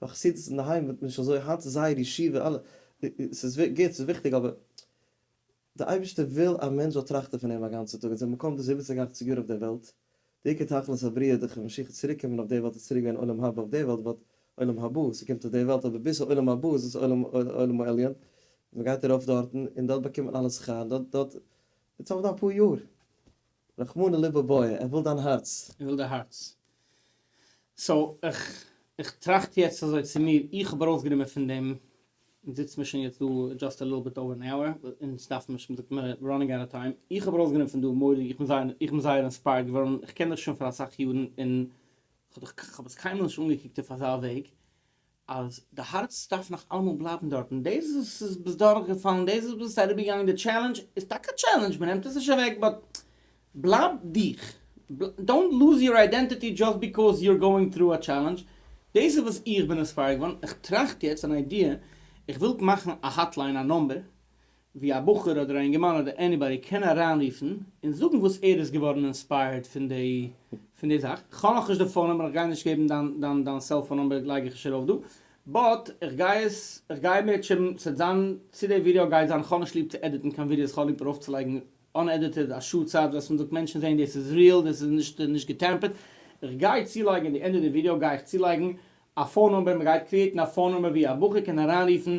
ביי חסידות אינדערהיים וועט מען נישט אזוי, היינט איז זייער ישיבה אלע, ס'איז גוט ס'איז וויכטיג אבער די אייבערשטער וויל א מענטש זאל טראכטען פון אים א גאנצע טאג און זיין מקום דאס זיבעציג אכציג יאר אויף דער וועלט די עיקר תכלית הבריאה דורך ווען משיח וועט צוריק קומען אויף דער וועלט איז צוריק ווערן עולם הבא אויף דער וועלט וואט עולם הבא ס'קומט אויף דער וועלט אבער ביז העולם הבא איז עס עולם עולם העליון מען גייט ארויף דארטן און דארט באקומט מען אלע שכר דארט דארט איטס אויף די אפאר יאר. רחמנא לבביה, ער וויל דיין הארץ. ער וויל די הארץ. סאו, איך, איך טראכט יעצט אזוי צו מיר, איך האב ארויסגענומען פון דעם, אונז זיצן מיר שוין יעצט דא דזשאסט א ליטל ביט אווער ען אוער, אונז דארפן נישט, מ'זאגט מיר ראנינג אוט אוו טיים, איך האב ארויסגענומען פון דא מורי, איך בין זייער, איך בין זייער אינספייערד געווארן, איך קען דיך שוין פאר אסאך יארן און כ'האב דיך, כ'האב עס קיינמאל נישט אנגעקוקט אויף אזא וועג, אז די הארץ דארף נאך אלעמאל בלייבן דארטן, דאס וואס איז ביסט דורכגעפאלן, דאס וואס ביסט אריבערגעגאנגען די טשעלענדזש, איז טאקע א טשעלענדזש, מען נעמט עס נישט אוועק, באט בלייב דיך, דאונט לוז יור איידענטיטי דזשאסט ביקאוז יור גאוינג טרו א טשעלענדזש, דאס איז וואס איך בין אינספייערד געווארן, איך טראכט יעצט אן איידיע, איך וויל מאכן א האטליין א נומבער, ווי א בחור אדער א אינגערמאן אדער עניבאדי קען אריינרופן און זאגן וואס ער איז געווארן אינספייערד פון די פון די זאך, כ'האב נאכנישט די פאון נומבער כ'גיי נישט געבן דיין דיין דיין סעלפאון נומבער לייג איך נישט ארויף דא, באט כ'גיי עס כ'גיי מעטשען ס'עט זיין צו די ווידעא גייט זיין כ'האב נישט ליב צו עדיטן קיין ווידעאס כ'האב ליב ארויפצולייגן אנעדיטעד א שעה צייט וועסט מען זאגט מענטשן זעהן דאס איז ריעל דאס איז נישט נישט געטעמפערט, כ'גיי צולייגן אין די ענדע די ווידעא גיי איך צולייגן א פאון נומבער מ'גייט קריעטן א פאון נומבער ווי א בחור קען אריינרופן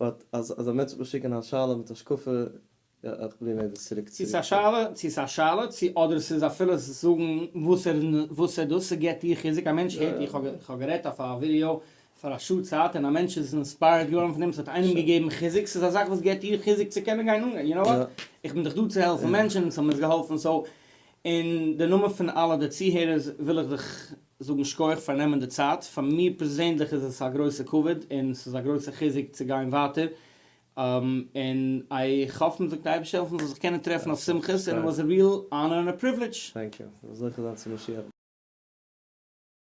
באט אז אז א מענטש וועט מיר שיקען א שאלה מיט השקפה יא איך פרוביר מיר דאס צוריק צו צו צו צו צו ס'איז א שאלה צו אדער ס'איז אפילו ס'איז זאגן וואס ער איז וואס ער דאס ס'געט דיר חיזוק א מענטש הערט איך האב איך האב גערעדט אויף א ווידיאו פאר א שעה צייט און א מענטש איז אינספייערד געווארן פון דעם ס'האט איינעם געגעבן חיזוק ס'איז א זאך וואס געט דיר חיזוק צו קענען גיין אנגיין יו נאו וואט איך בין דאך דא צו העלפן מענטשן און ס'האט מיר עס געהאלפן סאו אין די נאמען פון אלע די צוהערערס וויל איך דיך זאגן שכוח פאר נעמען די צייט, פאר מיר פערזענדליך איז עס א גרויסע כבוד און ס'איז א גרויסע חיזוק צו גיין ווייטער, און איך האף מ'וועט די אייבערשטער העלפן מ'זאל זיך קענען טרעפן אויף שמחות, און עס וואס א ריעל אנער און א פריוולידזש. טענק יו, זיך זוכה זיין צו משיח.